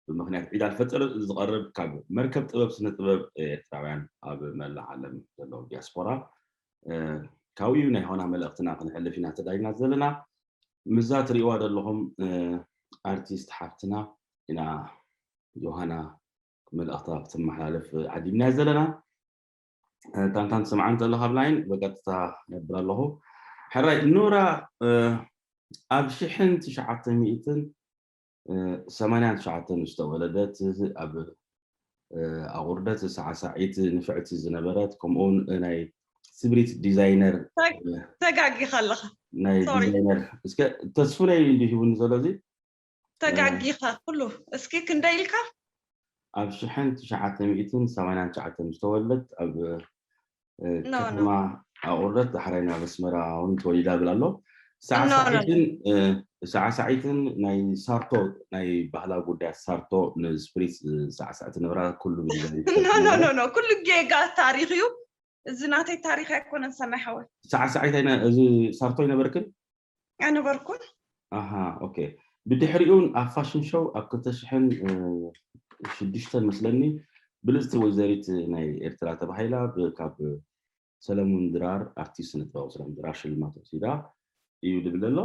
ብምኽንያት ዒድ ኣልፈጥር ዝቐርብ ካብ መርከብ ጥበብ ስነ ጥበብ ኤርትራውያን ኣብ መላእ ዓለም ዘለዉ ዲያስፖራ ካብኡ ናይ ሆና መልእኽትና ክንሕልፍ ኢና ተዳይና ዘለና ምዛ ትሪእዋ ዘለኹም ኣርቲስት ሓፍትና ኢና ዮሃና መልእኽታ ክትመሓላለፍ ዓዲምና ዘለና ታንታን ትሰምዓ እንተለካ ኣብ ላይን በቀጥታ ነብር ኣለኹ ሕራይ ኖራ ኣብ ሽሕን ትሽዓተ ሚእትን ሰማንያን ትሽዓተን ዝተወለደት ኣብ ኣቑርደት ሳዕሳዒት ንፍዕቲ ዝነበረት ከምኡውን ናይ ስብሪት ዲዛይነር ተጋጊኻ ኣለኻ ናይ ዲዛይነር እስከ ተስፉነይ እንዲ ሂቡኒ ዘሎ እዚ ተጋጊኻ ኩሉ እስኪ ክንደይ ኢልካ ኣብ ሽሕን ትሽዓተ ሚእትን ሰማንያን ትሽዓተን ዝተወለደት ኣብ ከተማ ኣቑርደት ዳሕራይ ናብ ኣስመራ እውን ተወሊዳ ብል ኣሎ ሳዕሳዒትን ሳዕሳዒትን ናይ ሳርቶ ናይ ባህላ ጉዳያ ሳርቶ ንስፕሪት ሳዕሳዕቲ ነብራ ኩሉ ኖኖኖ ኩሉ ጌጋ ታሪክ እዩ እዚ ናተይ ታሪክ ኣይኮነን ሰናይ ሓወይ ሳዕሳዒት እዚ ሳርቶ ኣይነበርክን ኣይነበርኩን። ኣሃ ኦኬ ብድሕሪኡን ኣብ ፋሽን ሾው ኣብ ክልተ ሽሕን ሽዱሽተን መስለኒ ብልጽቲ ወይዘሪት ናይ ኤርትራ ተባሂላ ካብ ሰለሙን ድራር ኣርቲስት ስነ ጥበባዊ ሰለሙን ድራር ሽልማት ወሲዳ እዩ ዝብል ኣሎ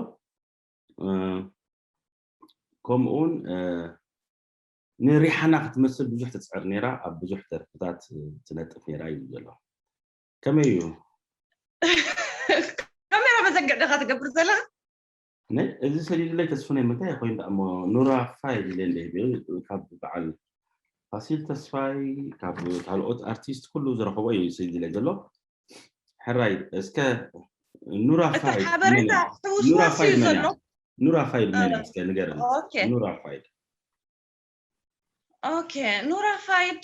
ከምኡውን ንሪሓና ክትመስል ብዙሕ ትፅዕር ነይራ ኣብ ብዙሕ ደርፍታት ትነጥፍ ነይራ እዩ ዘሎ ከመይ እዩ ካሜራ መዘግዕ ደኻ ትገብር ዘለኻ እዚ ሰሊሉለይ ተስፍነይ ምንታይ ኮይኑ ዳሞ ኑራ ፋይ ኢለን ካብ በዓል ፋሲል ተስፋይ ካብ ካልኦት ኣርቲስት ኩሉ ዝረኸቦ እዩ ሰሊሉለይ ዘሎ ሕራይ እስከ ኑራ ፋይ ሓበሬታ ኑራ ፋይ ዘሎ ኑራ ፋይ መን እስከ ንገር ኑራ ፋይ ኦኬ ኑራ ፋይድ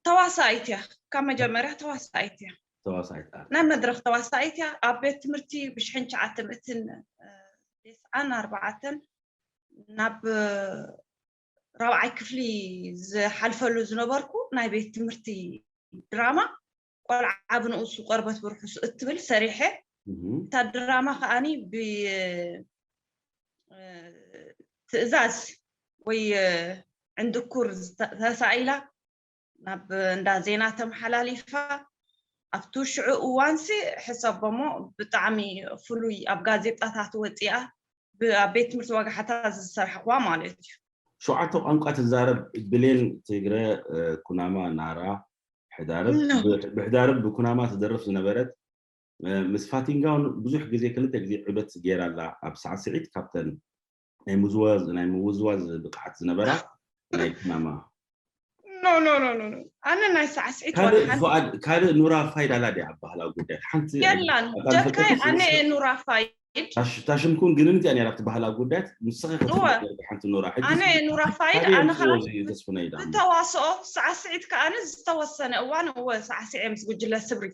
ተዋሳኢት እያ ካብ መጀመርያ ተዋሳኢት እያ ተዋሳኢት ኣር ናይ መድረኽ ተዋሳኢት እያ ኣብ ቤት ትምህርቲ ብሽሕን ሸዓተ ምእትን ዴስዓን ኣርባዓተን ናብ ራብዓይ ክፍሊ ዝሓልፈሉ ዝነበርኩ ናይ ቤት ትምህርቲ ድራማ ቆልዓ ብንኡሱ ቆርበት ብርሑሱ እትብል ሰሪሐ እታ ድራማ ከዓኒ ብትእዛዝ ወይ ዕንድኩር ተሳኢላ ናብ እንዳ ዜና ተመሓላሊፋ ኣብቲ ሽዑ እዋንሲ ሕሰቦሞ ብጣዕሚ ፍሉይ ኣብ ጋዜጣታት ወፂኣ ኣብ ቤት ትምህርቲ ወጋሓታ ዝሰርሕዋ ማለት እዩ ሸውዓተ ቋንቋ ትዛረብ ብሌን ትግረ ኩናማ ናራ ብሕዳርብ ብኩናማ ትደርፍ ዝነበረት ምስ ፋቲንጋውን ብዙሕ ግዜ ክልተ ግዜ ዑደት ገይራ ኣላ ኣብ ሳዕስዒት ካብተን ናይ ምዝዋዝ ናይ ምውዝዋዝ ብቅዓት ዝነበራ ናይ ኩናማ ኣነ ናይ ሳዕስዒት ካልእ ኑራ ፋይድ ኣላ ድያ ኣብ ባህላዊ ጉዳይ ሓንቲ የላን ደካይ ኣነ ኑራ ፋይድ እታ ሽምኩም ግንን እቲኣ ነራ ትበሃላ ጉዳያት ንስኺ ክትነገር ብሓንቲ ኖራ ሕጂ ኣነ ኑራ ፋይድ ኣነ ከኣ ዝተዋስኦ ሳዕስዒት ከኣ ዝተወሰነ እዋን እወ ሳዕስዔ ምስ ጉጅለ ስብሪ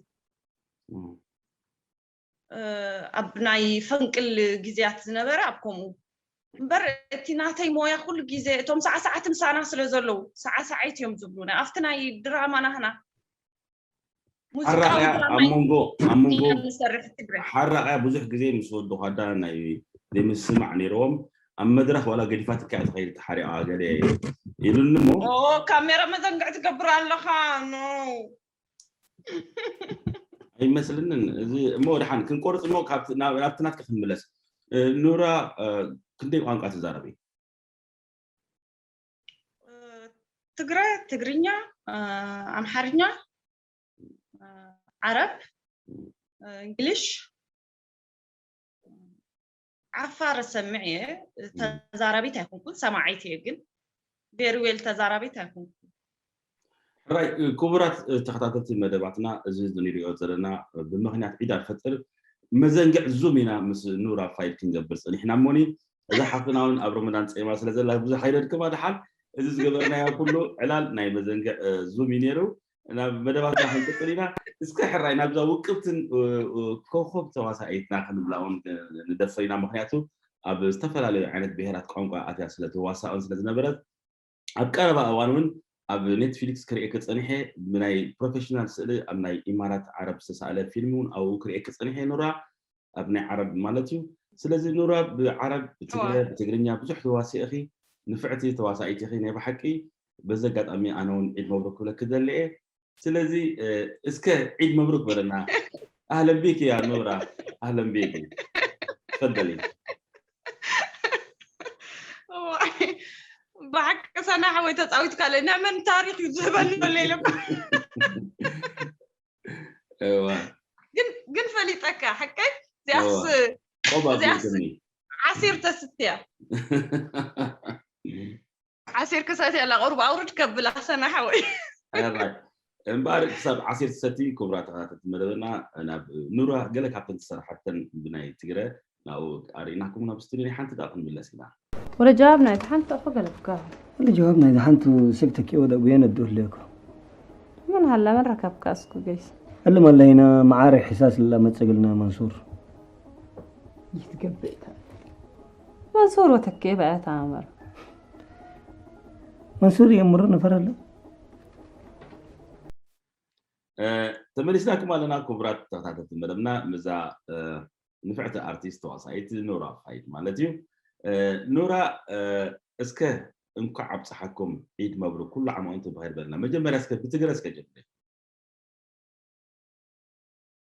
ኣብ ናይ ፈንቅል ግዜያት ዝነበረ ኣብ ከምኡ እምበር እቲ ናተይ ሞያ ኩሉ ግዜ እቶም ሳዕሳዓት ምሳና ስለ ዘለዉ ሳዕሳዓይት እዮም ዝብሉና ኣብቲ ናይ ድራማ ናህና ሓራቕያ ኣብ መንጎ ኣብ መንጎ ንሰርሕ ትግራይ ሓራቕያ ብዙሕ ግዜ ምስ ወዲ ኳዳ ናይ ዘይምስማዕ ነይርዎም ኣብ መድረኽ ዋላ ገዲፋትካ እያ ትኸይድ ተሓሪቓ ገለ ይብልኒ እሞ ኦ ካሜራ መዘንግዕ ትገብር ኣለኻ ኖ ኣይመስልንን እዚ እሞ ድሓን ክንቆርፅ እሞ ካብቲ ናብ- ናብቲ ናትካ ክንምለስ እ፣ ኑራ እ፣ ክንደይ ቋንቋ ትዛረቢ ትግረ ትግርኛ ኣምሓርኛ ዓረብ እንግሊሽ ዓፋር ሰምዕ እየ ተዛራቢት ኣይኮንኩን ሰማዒት እየ ግን ቬሪ ዌል ተዛራቢት ኣይኮንኩን ሕራይ ኩቡራት ተኸታተልቲ መደባትና እዚ ዝንሪኦ ዘለና ብምኽንያት ዒድ ኣልፈጥር መዘንግዕ ዙም ኢና ምስ ኑር ኣብ ፋይል ክንገብር ጸኒሕና እሞኒ እዛ ሓፍትና ውን ኣብ ረመዳን ጸይማ ስለ ዘላ ብዙሕ ኣይነድክማ ድሓን እዚ ዝገበርናዮ ኩሉ ዕላል ናይ መዘንግዕ ዙም እዩ ነይሩ ናብ መደባትና ክንቅጽል ኢና እስከ ሕራይ ናብዛ ውቅብትን ኮኾብ ተዋሳኢትና ክንብላ ውን ንደፍር ኢና ምኽንያቱ ኣብ ዝተፈላለዩ ዓይነት ብሄራት ቋንቋ ኣትያ ስለ ትዋሳእን ስለ ዝነበረት ኣብ ቀረባ እዋን ውን ኣብ ኔትፊሊክስ ክርእየኪ ጸኒሐ ብናይ ፕሮፈሽናል ስእሊ ኣብ ናይ ኢማራት ዓረብ ዝተሳእለ ፊልሚ ውን ኣብኡ ክርእየኪ ጸኒሐ ኑራ ኣብ ናይ ዓረብ ማለት እዩ ስለዚ ኑራ ብዓረብ ብትግረ ብትግርኛ ብዙሕ ተዋሲእኺ ንፍዕቲ ተዋሳኢት ኢኺ ናይ ብሓቂ በዚ ኣጋጣሚ ኣነ ውን ዒድ መብሩክ ክብለኪ ደሊ እየ ስለዚ እስከ ዒድ መብሩክ በለና ኣህለን ቢክ ያ ኑራ ኣህለን ቢክ ተፈደሊ ብሓቂ ሰና ሓወይ ተፃዊትካ ለይ ናይ መን ታሪክ እዩ ዝህበኒ ዘሎ ኢለካ ግን ግን ፈሊጠካ ሓቀይ እዚኣስ እዚኣስ ዓሲር ተስትያ ዓሲር ክሰቲ ኣላ ቁሩብ ኣውርድ ከብላ ሰና ሓወይ። ሕራይ እምበኣር ክሳብ ዓሲር ትሰቲ ኩቡራት ተኸታተልቲ መደበና ናብ ኑራ ገለ ካብተን ዝሰርሓተን ብናይ ትግረ ናብኡ ኣርኢናኩም ናብ ስቱድዮ ናይ ሓንቲ ደኣ ክንምለስ ኢና። ወለ ጀዋብ ናይታ ሓንቲ እኮ ገለጽካዮ። ወለ ጀዋብ ናይዛ ሓንቲ ሰብ ተኪኦ ደኣ ጉየን ኣዶ ህለየኩም። መን ሃላ መን ረከብካ እስኩ ገይስ። እልም ኣለይና መዓረይ ሕሳስ እላ መጽግልና መንሱር። ይትገበይ ታሪክ። መንሱር ወተኬ በያት ኣምር መንሱር የምሩ ንፈረለ ተመሊስናኩም ኣለና ክቡራት ተኸታተልቲ መደብና ምዛ ንፍዕቲ ኣርቲስት ተዋሳኢት ኑራ ፋይድ ማለት እዩ ኑራ እስከ እንኳዕ ኣብፀሓኩም ዒድ መብሩ ኩሉ ዓመ ወንቱ ብኸይር በልና መጀመርያ እስከ ብትግረ እስከ ጀምር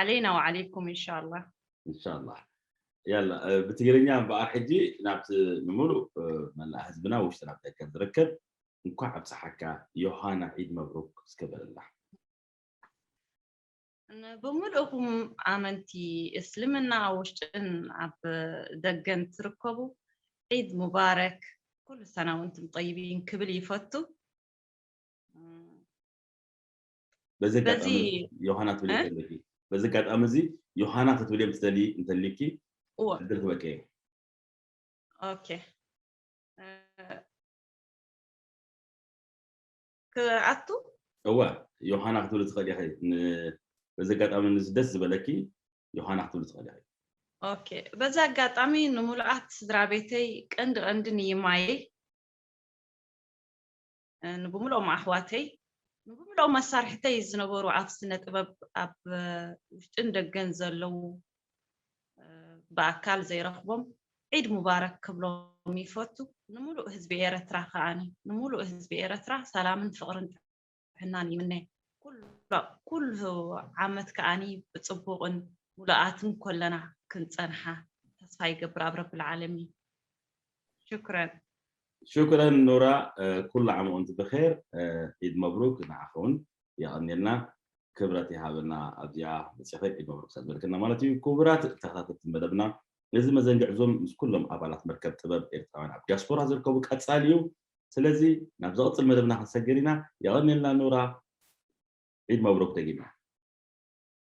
ዓለይና ወዓለይኩም እንሻላ እንሻላ ያላ ብትግርኛ እምበኣር ሕጂ ናብቲ ንምሉእ መላእ ህዝብና ውሽጢ ናብ ደገ ዝርከብ እንኳዕ ኣብፀሓካ ዮሃና ዒድ መብሩክ እስከ በለላ ብምልእኹም ኣመንቲ እስልምና ኣብ ውሽጥን ኣብ ደገን ትርከቡ ዒድ ሙባረክ ኩሉ ሰና ወንቱም ጠይቢን ክብል ይፈቱ በዚ ኣጋጣሚ በዚ ዮሃና ትብሊ እ? እንተለኪ በዚ ኣጋጣሚ እዚ ዮሃና ክትብልዮም ትደልዪ እንተሊኪ እወ ዕድል ክበቂ እዩ ኦኬ እ፣ ክኣቱ እወ ዮሃና ክትብሊ ትኽእሊ ኢኺ ን- በዚ ኣጋጣሚ ንዚ ደስ ዝበለኪ ዮሃና ክትብሊ ትኽእሊ ኢኺ ኦኬ በዚ ኣጋጣሚ ንሙሉኣት ስድራ ቤተይ ቀንዲ ቀንዲ ንይማየይ ንብምልኦም ኣሕዋተይ ንብምልኦም ኣሳርሕተይ ዝነበሩ ኣብ ስነ ጥበብ ኣብ ውሽጥን ደገን ዘለዉ ብኣካል ዘይረኽቦም ዒድ ሙባረክ ክብሎም ይፈቱ ንምሉእ ህዝቢ ኤረትራ ከዓኒ ንምሉእ ህዝቢ ኤረትራ ሰላምን ፍቕርን ጥዕናን ይምነ ኩሉ ዓመት ከዓኒ ብጽቡቕን ሙሉኣትን ኮለና ክንጸንሓ ተስፋ ይገብር ኣብ ረቢ ልዓለሚን ሹክረን። ሹክረን ኑራ ኩሉ ዓም ወንት ብኼር ዒድ መብሩክ ንዓኺ ውን የቀንየልና ክብረት ይሃበልና ኣብዚኣ መጺኺ ዒድ መብሩክ ስለ ዝበልክና ማለት እዩ ኩቡራት ተከታተልቲ መደብና እዚ መዘንግዕ ዙም ምስ ኩሎም ኣባላት መርከብ ጥበብ ኤርትራውያን ኣብ ዲያስፖራ ዝርከቡ ቀጻሊ እዩ ስለዚ ናብ ዝቅጽል መደብና ክንሰግር ኢና የቀንየልና ኑራ ዒድ መብሩክ ደጊምና።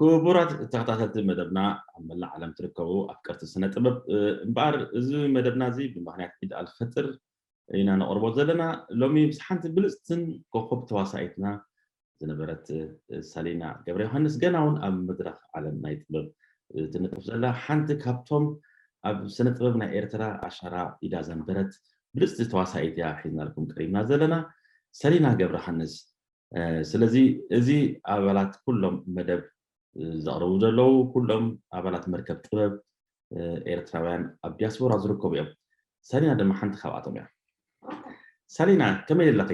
ክቡራት ተኸታተልቲ መደብና ኣብ መላእ ዓለም ትርከቡ ኣፍቀርቲ ስነ ጥበብ እምበኣር እዚ መደብና እዚ ብምኽንያት ዒድ ኣልፈጥር ኢና ነቕርቦ ዘለና ሎሚ ምስ ሓንቲ ብልፅትን ኮኸብ ተዋሳኢትና ዝነበረት ሳሊና ገብረዮሃንስ ገና ውን ኣብ መድረኽ ዓለም ናይ ጥበብ ትንጥፍ ዘላ ሓንቲ ካብቶም ኣብ ስነ ጥበብ ናይ ኤርትራ ኣሻራ ኢዳ ዘንበረት ብልጽቲ ተዋሳኢት እያ ሒዝናልኩም ቀሪብና ዘለና ሰሊና ገብረሃንስ ስለዚ እዚ ኣባላት ኩሎም መደብ ዘቕርቡ ዘለዉ ኩሎም ኣባላት መርከብ ጥበብ ኤርትራውያን ኣብ ዲያስፖራ ዝርከቡ እዮም ሳሊና ድማ ሓንቲ ካብኣቶም እያ ሳሊና ከመይ ኣለኺ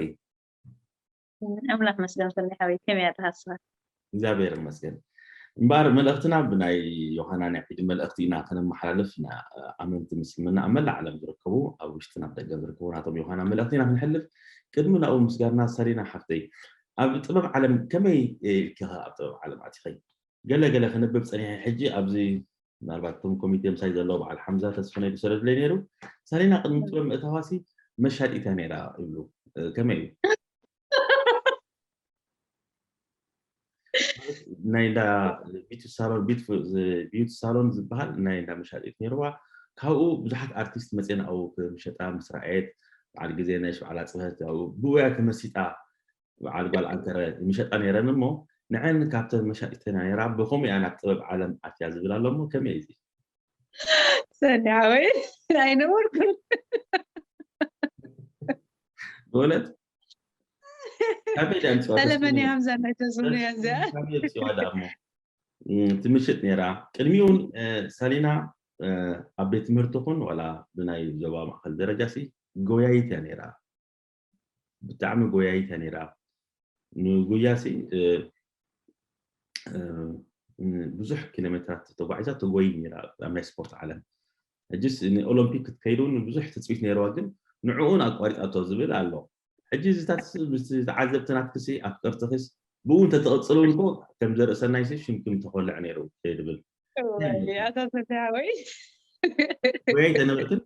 ኣምላኽ መስገን ሰኒ ሓወይ ከመይ ኣለኻ ንስኻ? እግዚኣብሔር ይመስገን እምበኣር መልእኽትና ብናይ ዮሃና ናይ ዒድ መልእኽቲ ኢና ከነመሓላልፍ ንኣመንቲ ምስልምና ኣብ መላእ ዓለም ዝርከቡ ኣብ ውሽጥን ኣብ ደገን ዝርከቡ ናቶም ዮሃና መልእኽቲ ኢና ክንሕልፍ ቅድሚ ናብኡ ምስጋርና ሰሪና ሓፍተይ ኣብ ጥበብ ዓለም ከመይ ኢልኪ ኣብ ጥበብ ዓለም ኣቲኸይ ገለ ገለ ክንብብ ፀኒሐ ሕጂ ኣብዚ ምናልባት እቶም ኮሚቴ ምሳይ ዘለዉ በዓል ሓምዛ ተስፈነይ ዝሰደዱለይ ነይሩ ሳሌና ቅድሚ ጥበብ ምእታዋሲ መሻጢት እያ ነይራ ይብሉ ከመይ እዩ ናይ እንዳ ቢቲ ሳሎን ቢዩቲ ሳሎን ዝበሃል ናይ እንዳ መሻጢት ነይርዋ ካብኡ ብዙሓት ኣርቲስት መፅና ኣብኡ ክምሸጣ ምስ ረኣየት በዓል ግዜ ነሽ በዓል ኣፅብሀት ኣብኡ ብኡያ ተመሲጣ በዓል ጓል ዓንተረ ይምሸጣ ነይረን እሞ ንዐን ካብተን መሻጢተን እያ ነይራ ብከምኡ እያ ናብ ጥበብ ዓለም ኣትያ ዝብል ኣሎ እሞ ከመይ እዩ እዚ ሰኒ ሓወይ ኣይነበርኩን ብእውነት ካበይ ድያ ምፅዋ ተለመን እያ ሃምዛ ናይ ተዝብሉ እያ እዚኣ ካበይ ምፅዋ ድኣ እሞ እም፣ ትምሽጥ ነይራ ቅድሚኡ እውን እ፣ ሳሊና እ፣ ኣብ ቤት ትምህርቲ ኹን ዋላ ብናይ ዞባ ማእኸል ደረጃ ሲ ጎያይት እያ ነይራ ብጣዕሚ ጎያይት እያ ነይራ ንጉያ ሲ ብዙሕ ኪሎ ሜትራት ተጓዒዛ ተጎይ ነይራ ኣብ ናይ ስፖርት ዓለም ሕጂስ ንኦሎምፒክ ክትከይድ እውን ብዙሕ ትፅቢት ነይረዋ ግን ንዕኡን ኣቋሪፃቶ ዝብል ኣሎ ሕጂ እዚታት ዝተዓዘብቲ ናትክሲ ኣፍቀርትኺስ ብኡ እንተተቐፅልውን ኮ ከም ዘርእሰናይ ሲ ሽምክም ተኮልዕ ነይሩ ይብል ኣታ ሰፊያ ወይ ወይ ተነበትን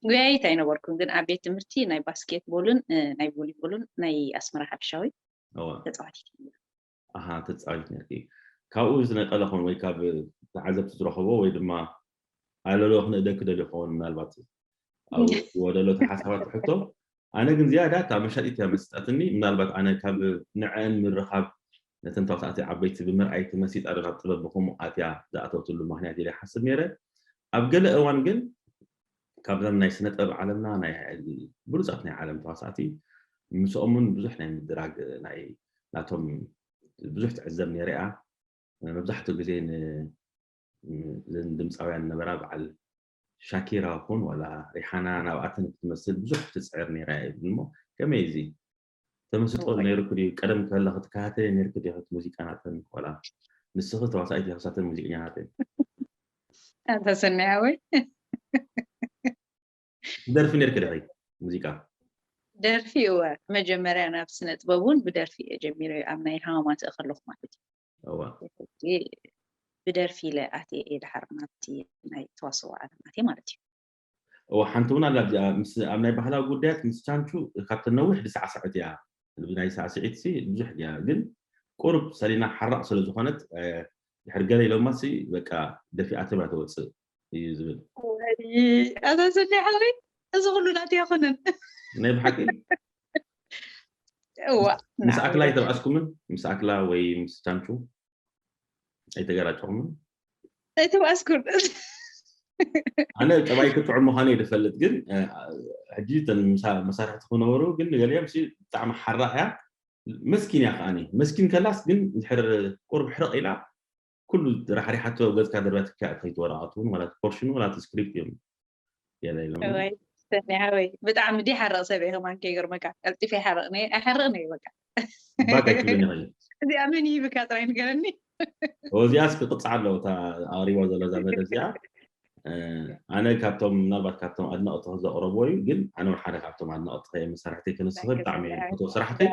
ጉያይት ኣይነበርኩን ግን ኣብ ቤት ትምህርቲ ናይ ባስኬት ቦልን ናይ ቮሊቦልን ናይ ኣስመራ ሓድሻዊ ተፃዋቲት ተፃዋቲት ነርኪ ካብኡ ዝነቀለ ኾን ወይ ካብ ተዓዘብቲ ዝረኸቦ ወይ ድማ ኣለሎ ክንእደ ክደልዮ ኸውን ምናልባት ወደሎ ተሓሳባት ሕቶ ኣነ ግን ዝያዳ እታ መሻጢት እያ መሲጣትኒ ምናልባት ኣነ ካብ ንዐኣን ምርኻብ ነተን ተዋሳእቲ ዓበይቲ ብምርኣይ ተመሲጣ ዶ ናብ ጥበብ ብኸምኡ ኣትያ ዝኣተወትሉ ምኽንያት ኢለ ይሓስብ ነይረ ኣብ ገለ እዋን ግን ካብዘን ናይ ስነ ጥበብ ዓለምና ናይ ብሉጻት ናይ ዓለም ተዋሳእቲ ምስኦም እውን ብዙሕ ናይ ምድራግ ናይ ናቶም ብዙሕ ትዕዘብ ነይረ እያ መብዛሕትኡ ግዜ ድምፃውያን ነበራ በዓል ሻኪራ ኹን ዋላ ሪሓና ናብኣተን ክትመስል ብዙሕ ትጽዕር ኔራ እያ ይብል እሞ ከመይ እዚ ተመስጦ ኔሩኪ ድዩ ቀደም ከለኺ ትከታተልየን ኔርኪ ዲኺ እቲ ሙዚቃ ናተን ዋላ ንስኺ ተዋሳኢት ኢኺ ክሳተን ሙዚቀኛ ናተን ኣንታ ሰናይ ሓወይ ትደርፊ ኔርኪ ዲኺ ሙዚቃ ደርፊ እወ መጀመርያ ናብ ስነ ጥበብ እውን ብደርፊ እየ ጀሚረ ኣብ ናይ ሃማማተእ ከለኹ ማለት እዩ እወ ሕጂ ብደርፊ ኢለ ኣትየ እየ ድሓር ናብቲ ናይ ተዋስኦ ዓለም ኣትየ ማለት እዩ። እወ ሓንቲ እውን ኣላ ኣብዚኣ ምስ ኣብ ናይ ባህላዊ ጉዳያት ምስ ቻንቹ ካብተን ነዊሕ ድሳዕሰዐት እያ ብናይ ሳዕስዒትሲ ብዙሕ ድያ ግን ቁሩብ ሰሊና ሓራቕ ስለ ዝኾነት ድሕሪ ገለ ኢሎማሲ በቃ ደፊኣቶም እያ ተወጽእ። እዩ ዝብል ኣዛዘኒ ሓሪ እዚ ኩሉ ናት ኣይኮነን ናይ ብሓቂ ምስ ኣክላ ኣይተባኣስኩምን ምስ ኣክላ ወይ ምስ ቻንቹ ኣይተገራጨኹምን ኣይተባኣስኩን ኣነ ጠባይ ክትዑ ምዃኑ እዩ ዝፈልጥ ግን ሕጂ እተን መሳርሕቲ ክነበሩ ግን ገሊኦም ብጣዕሚ ሓራ እያ መስኪን እያ ከዓኒ መስኪን ከላስ ግን ድሕር ቁርብ ሕርቕ ኢላ ኩሉ ራሕሪሓቶ ኣብ ገጽካ ደርብያትካ እያ ትኸይድ ወረቓቱ እውን ዋላ እቲ ፖርሽኑ ዋላ እቲ ስክሪፕት እዮም የለ ኢሎም እዋይ ሰኒ ሓወይ ብጣዕሚ ድይሓርቕ ሰብ እየ ከማን ከይገርመካ ቀልጢፈ ይሓርቕኒ ኣይሓርቕን እየ በቃ ባክ ኣይትብልን ኢኻ እዩ እዚኣ መን ይህብካ ጥራይ ንገረኒ ኦ እዚኣስ ክቕጽዓ ኣለዎ እታ ኣቕሪባ ዘሎ እዛ መደብ እዚኣ እ፣ ኣነ ካብቶም ምናልባት ካብቶም ኣድነቕቲ ዘቕረብዎ እዩ ግን ኣነ እውን ሓደ ካብቶም ኣድነቕቲ ከየ መሳርሕተይ ክንስኽል ብጣዕሚ እየ ዝፈትዎ ስራሕተይ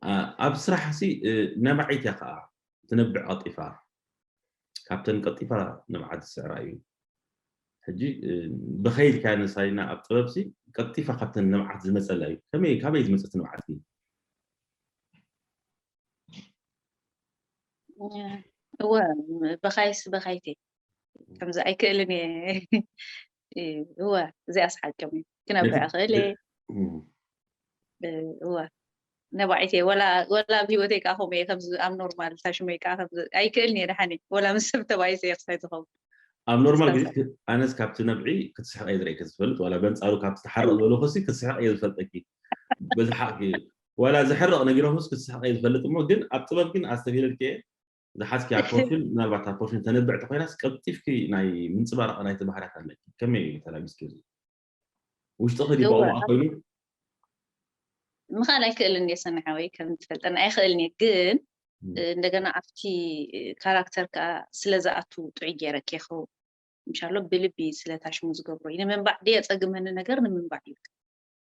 ኣ- ኣብ ስራሕሲ እ፣ ነባዒት እያ ከዓ ትነብዕ ቀልጢፋ ካብተን ቀልጢፋ ንብዓት ዝስዕራ እዩ ሕጂ ብኸይ ኢልካ ነሳይና ኣብ ጥበብሲ ቀልጢፋ ካብተን ንብዓት ዝመፀላ እዩ ከመይ ካበይ ዝመፀት ንብዓት እዩ እወ በኻይስ በኻይት ከምዚ ኣይክእልን እየ እወ እዚኣስ ሓቅም እዩ ክነብረ እኽእል እየ እወ ነባዒት እየ ወላ ኣብ ሂወተይ ከዓ ከምኡ እየ ከምዚ ኣብ ኖርማል ታሽመይ ከዓ ኣይክእልን እየ ደሓን ወላ ምስ ሰብ ተባኢሰ እየ ክሳይ ዝኸውን ኣብ ኖርማል ግዜ ኣነስ ካብቲ ነብዒ ክትስሕቕ እየ ዝርእየኪ ዝፈልጥ ዋላ በንፃሩ ካብቲ ተሓርቕ ዝበለኩሲ ክትስሕቕ እየ ዝፈልጠኪ በዝሓቕኪ ዋላ ዘሕርቕ ነጊሮምስ ክትስሕቕ እየ ዝፈልጥ እሞ ግን ኣብ ጥበብ ግን ኣስተብሂለልኪ እየ ዝሓዝክያ ፕሮፊል ምናልባት እታ ፕሮፊል ተንብዕ ተኮይናስ ቀልጢፍኪ ናይ ምንፅባራቕ ናይቲ ባህርያት ኣለኪ ከመይ እዩ ተላቢስኪ እዚ ውሽጥኺ ድዩ ባኡ ኮይኑ ምኻል ኣይክእልን እየ ሰምዓወይ ከም ትፈልጠና ኣይክእልን እየ ግን እንደገና ኣብቲ ካራክተር ከዓ ስለዝኣቱ ጥዑይ ገይረ ኬኸው ምሻሎ ብልቢ ስለታሽሙ ዝገብሮ እዩ ንምንባዕ ድየ ፀግመኒ ነገር ንምንባዕ እዩ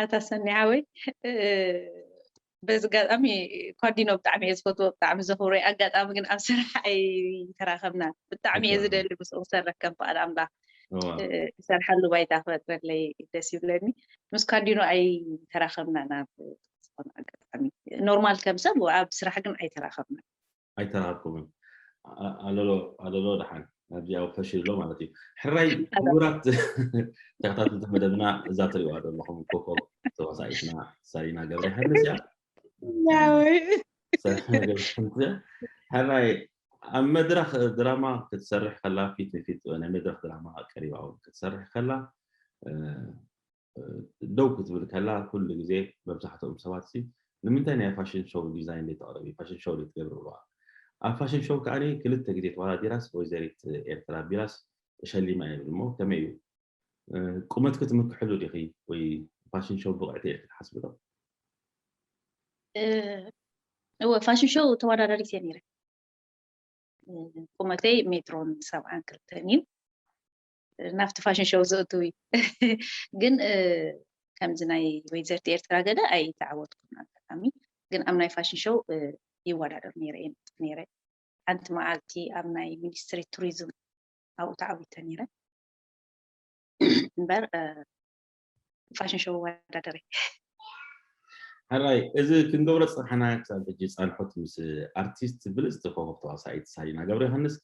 ኣታ ሰኒ ሓወይ በዚ ኣጋጣሚ ኳዲኖ ብጣዕሚ እየ ዝፈትዎ ብጣዕሚ ዘኽብሮ እየ ኣጋጣሚ ግን ኣብ ስራሕ ኣይተራኸብና ብጣዕሚ እየ ዝደሊ ምስኡ ክሰርሕ ከም ፍቓድ ኣምላኽ ዝሰርሓሉ ባይታ ክፈጥረለይ ደስ ይብለኒ ምስ ኳዲኖ ኣይተራኸብና ናብ ዝኾነ ኣጋጣሚ ኖርማል ከም ሰብ ኣብ ስራሕ ግን ኣይተራኸብና ኣይተራሃብኩምን ኣለሎ ኣለሎ ድሓን ኣብዚ ኣብ ፈሽል ኣሎ ማለት እዩ ሕራይ ክቡራት ተከታተልቲ መደብና እዛ ትሪእዋ ዘለኹም ኮኮብ ተዋሳኢትና ሳሊና ገብረ ዮሃንስ እያ ሕራይ ኣብ መድረክ ድራማ ክትሰርሕ ከላ ፊት ንፊት ናይ መድረክ ድራማ ቀሪባ እውን ክትሰርሕ ከላ ደው ክትብል ከላ ኩሉ ግዜ መብዛሕትኦም ሰባት ሲ ንምንታይ ናይ ፋሽን ሾው ዲዛይን ዘይተቕርቢ ፋሽን ሾው ዘይትገብሪ ይብሉዋ። ኣብ ፋሽን ሾው ከኣ ክልተ ግዜ ተወዳዲራስ ወይዘሪት ኤርትራ ኣቢላስ ተሸሊማ እያ ይብል እሞ ከመይ እዩ ቁመትኪ ትምክሕሉ ዲኺ ወይ ፋሽን ሾው ብቕዕቲ ኢልኪ ትሓስቢ ዶ? እወ ፋሽን ሾው ተወዳዳሪት እየ ነይረ ቁመተይ ሜትሮን ሰብዓን ክልተን እዩ ናብቲ ፋሽን ሾው ዘእትዊ ግን ከምዚ ናይ ወይዘርቲ ኤርትራ ገለ ኣይተዓወትኩም ኣጋጣሚ ግን ኣብ ናይ ፋሽን ሾው ይወዳደር ነይረ እየ ነጥፍ ነይረ ሓንቲ መዓልቲ ኣብ ናይ ሚኒስትሪ ቱሪዝም ኣብኡ ተዓዊተ ነይረ እምበር ፋሽን ሾው ወዳደሪ ሕራይ እዚ ክንገብሮ ፅናሕና ክሳብ ሕጂ ፃንሖት ምስ ኣርቲስት ብልፅቲ ኮኸብ ተዋሳኢት ሳሊና ገብረዮሃንስ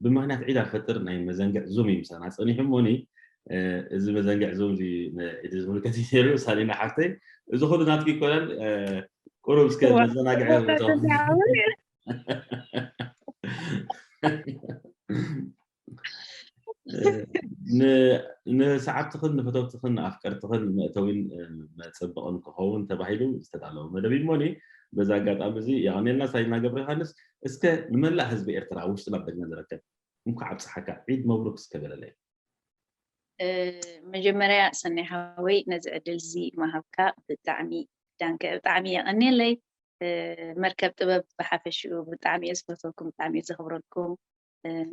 ብምክንያት ዒድ ኣልፈጥር ናይ መዘንግዕ ዙም እዩ ምሳና ፀኒሑ እሞኒ እዚ መዘንግዕ ዙም እዚ ንዒድ ዝምልከት እዩ ነይሩ ሳሊና ሓፍተይ እዚ ኩሉ ናትኪ ይኮነን ቁሩብ እስከ መዘናግዒ ንሰዓብትኽን ንፈተውትኽን ንኣፍቀርትኽን መእተዊን መፀበቕን ክኸውን ተባሂሉ ዝተዳለወ መደብ እዩ እሞኒ በዚ ኣጋጣሚ እዚ የቐንየልና ሳይድና ገብረ ዮሃንስ እስከ ንመላእ ህዝቢ ኤርትራ ኣብ ውሽጥን ኣብ ደገን ዝርከብ እንኳዕ ኣብፀሓካ ዒድ መብሩክ እስከ በለለይ መጀመርያ ሰናይ ሓወይ ነዚ ዕድል እዚ ምሃብካ ብጣዕሚ ዳንከ ብጣዕሚ የቐንየለይ መርከብ ጥበብ ብሓፈሽኡ ብጣዕሚ እየ ዝፈትወኩም ብጣዕሚ እየ ዘኽብረልኩም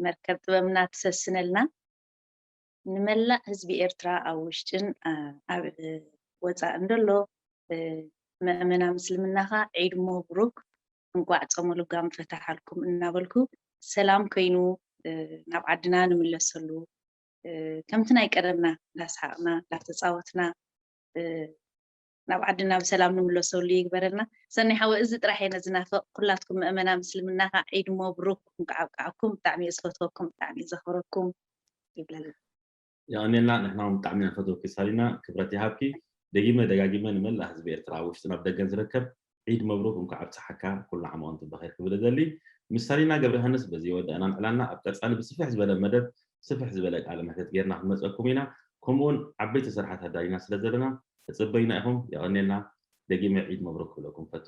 መርከብ ጥበብና ትሰስነልና። ንመላእ ህዝቢ ኤርትራ ኣብ ውሽጥን ኣብ ወጻእን ደሎ መእመና ምስልምና ከኣ ዒድ ሞብሩክ እንቋዕ ጾመ ልጓም ፈታሓልኩም እናበልኩ ሰላም ኮይኑ ናብ ዓድና ንምለሰሉ ከምቲ ናይ ቀደምና እንዳስሓቕና እንዳተጻወትና ናብ ዓድና ብሰላም ንምለሰሉ ይግበረልና። ሰናይ ሓወይ እዚ ጥራሕ እየ ዝናፍቅ ኩላትኩም መእመና ምስልምና ካዓ ዒድ ሞብሩክ እንኳዕ ኣብቀዓኩም ብጣዕሚ እየ ዝፈትወኩም ብጣዕሚ እየ ዘክብረኩም ይብለልና። የቐንየልና ንሕና ውን ብጣዕሚ ኢና ንፈትወኪ ሳሊና ክብረት ይሃብኪ። ደጊመ ደጋጊመ ንመላእ ህዝቢ ኤርትራ ኣብ ውሽጥን ኣብ ደገን ዝርከብ ዒድ መብሩክ እንኳዕ ኣብፀሓካ ኩሉ ዓመ ወንቱም በኸይር ክብል እደሊ ምስ ሰሊና ገብረሀንስ በዚ ወዳእና ንዕላና ኣብ ቀፃሊ ብስፍሕ ዝበለ መደብ ስፍሕ ዝበለ ቃለ መሕተት ገይርና ክንመፀኩም ኢና ከምኡ ውን ዓበይቲ ስርሓት ኣዳሊና ስለ ዘለና ተፅበዩና ኢኹም የቐንየልና ደጊመ ዒድ መብሩክ ክብለኩም ፈቱ።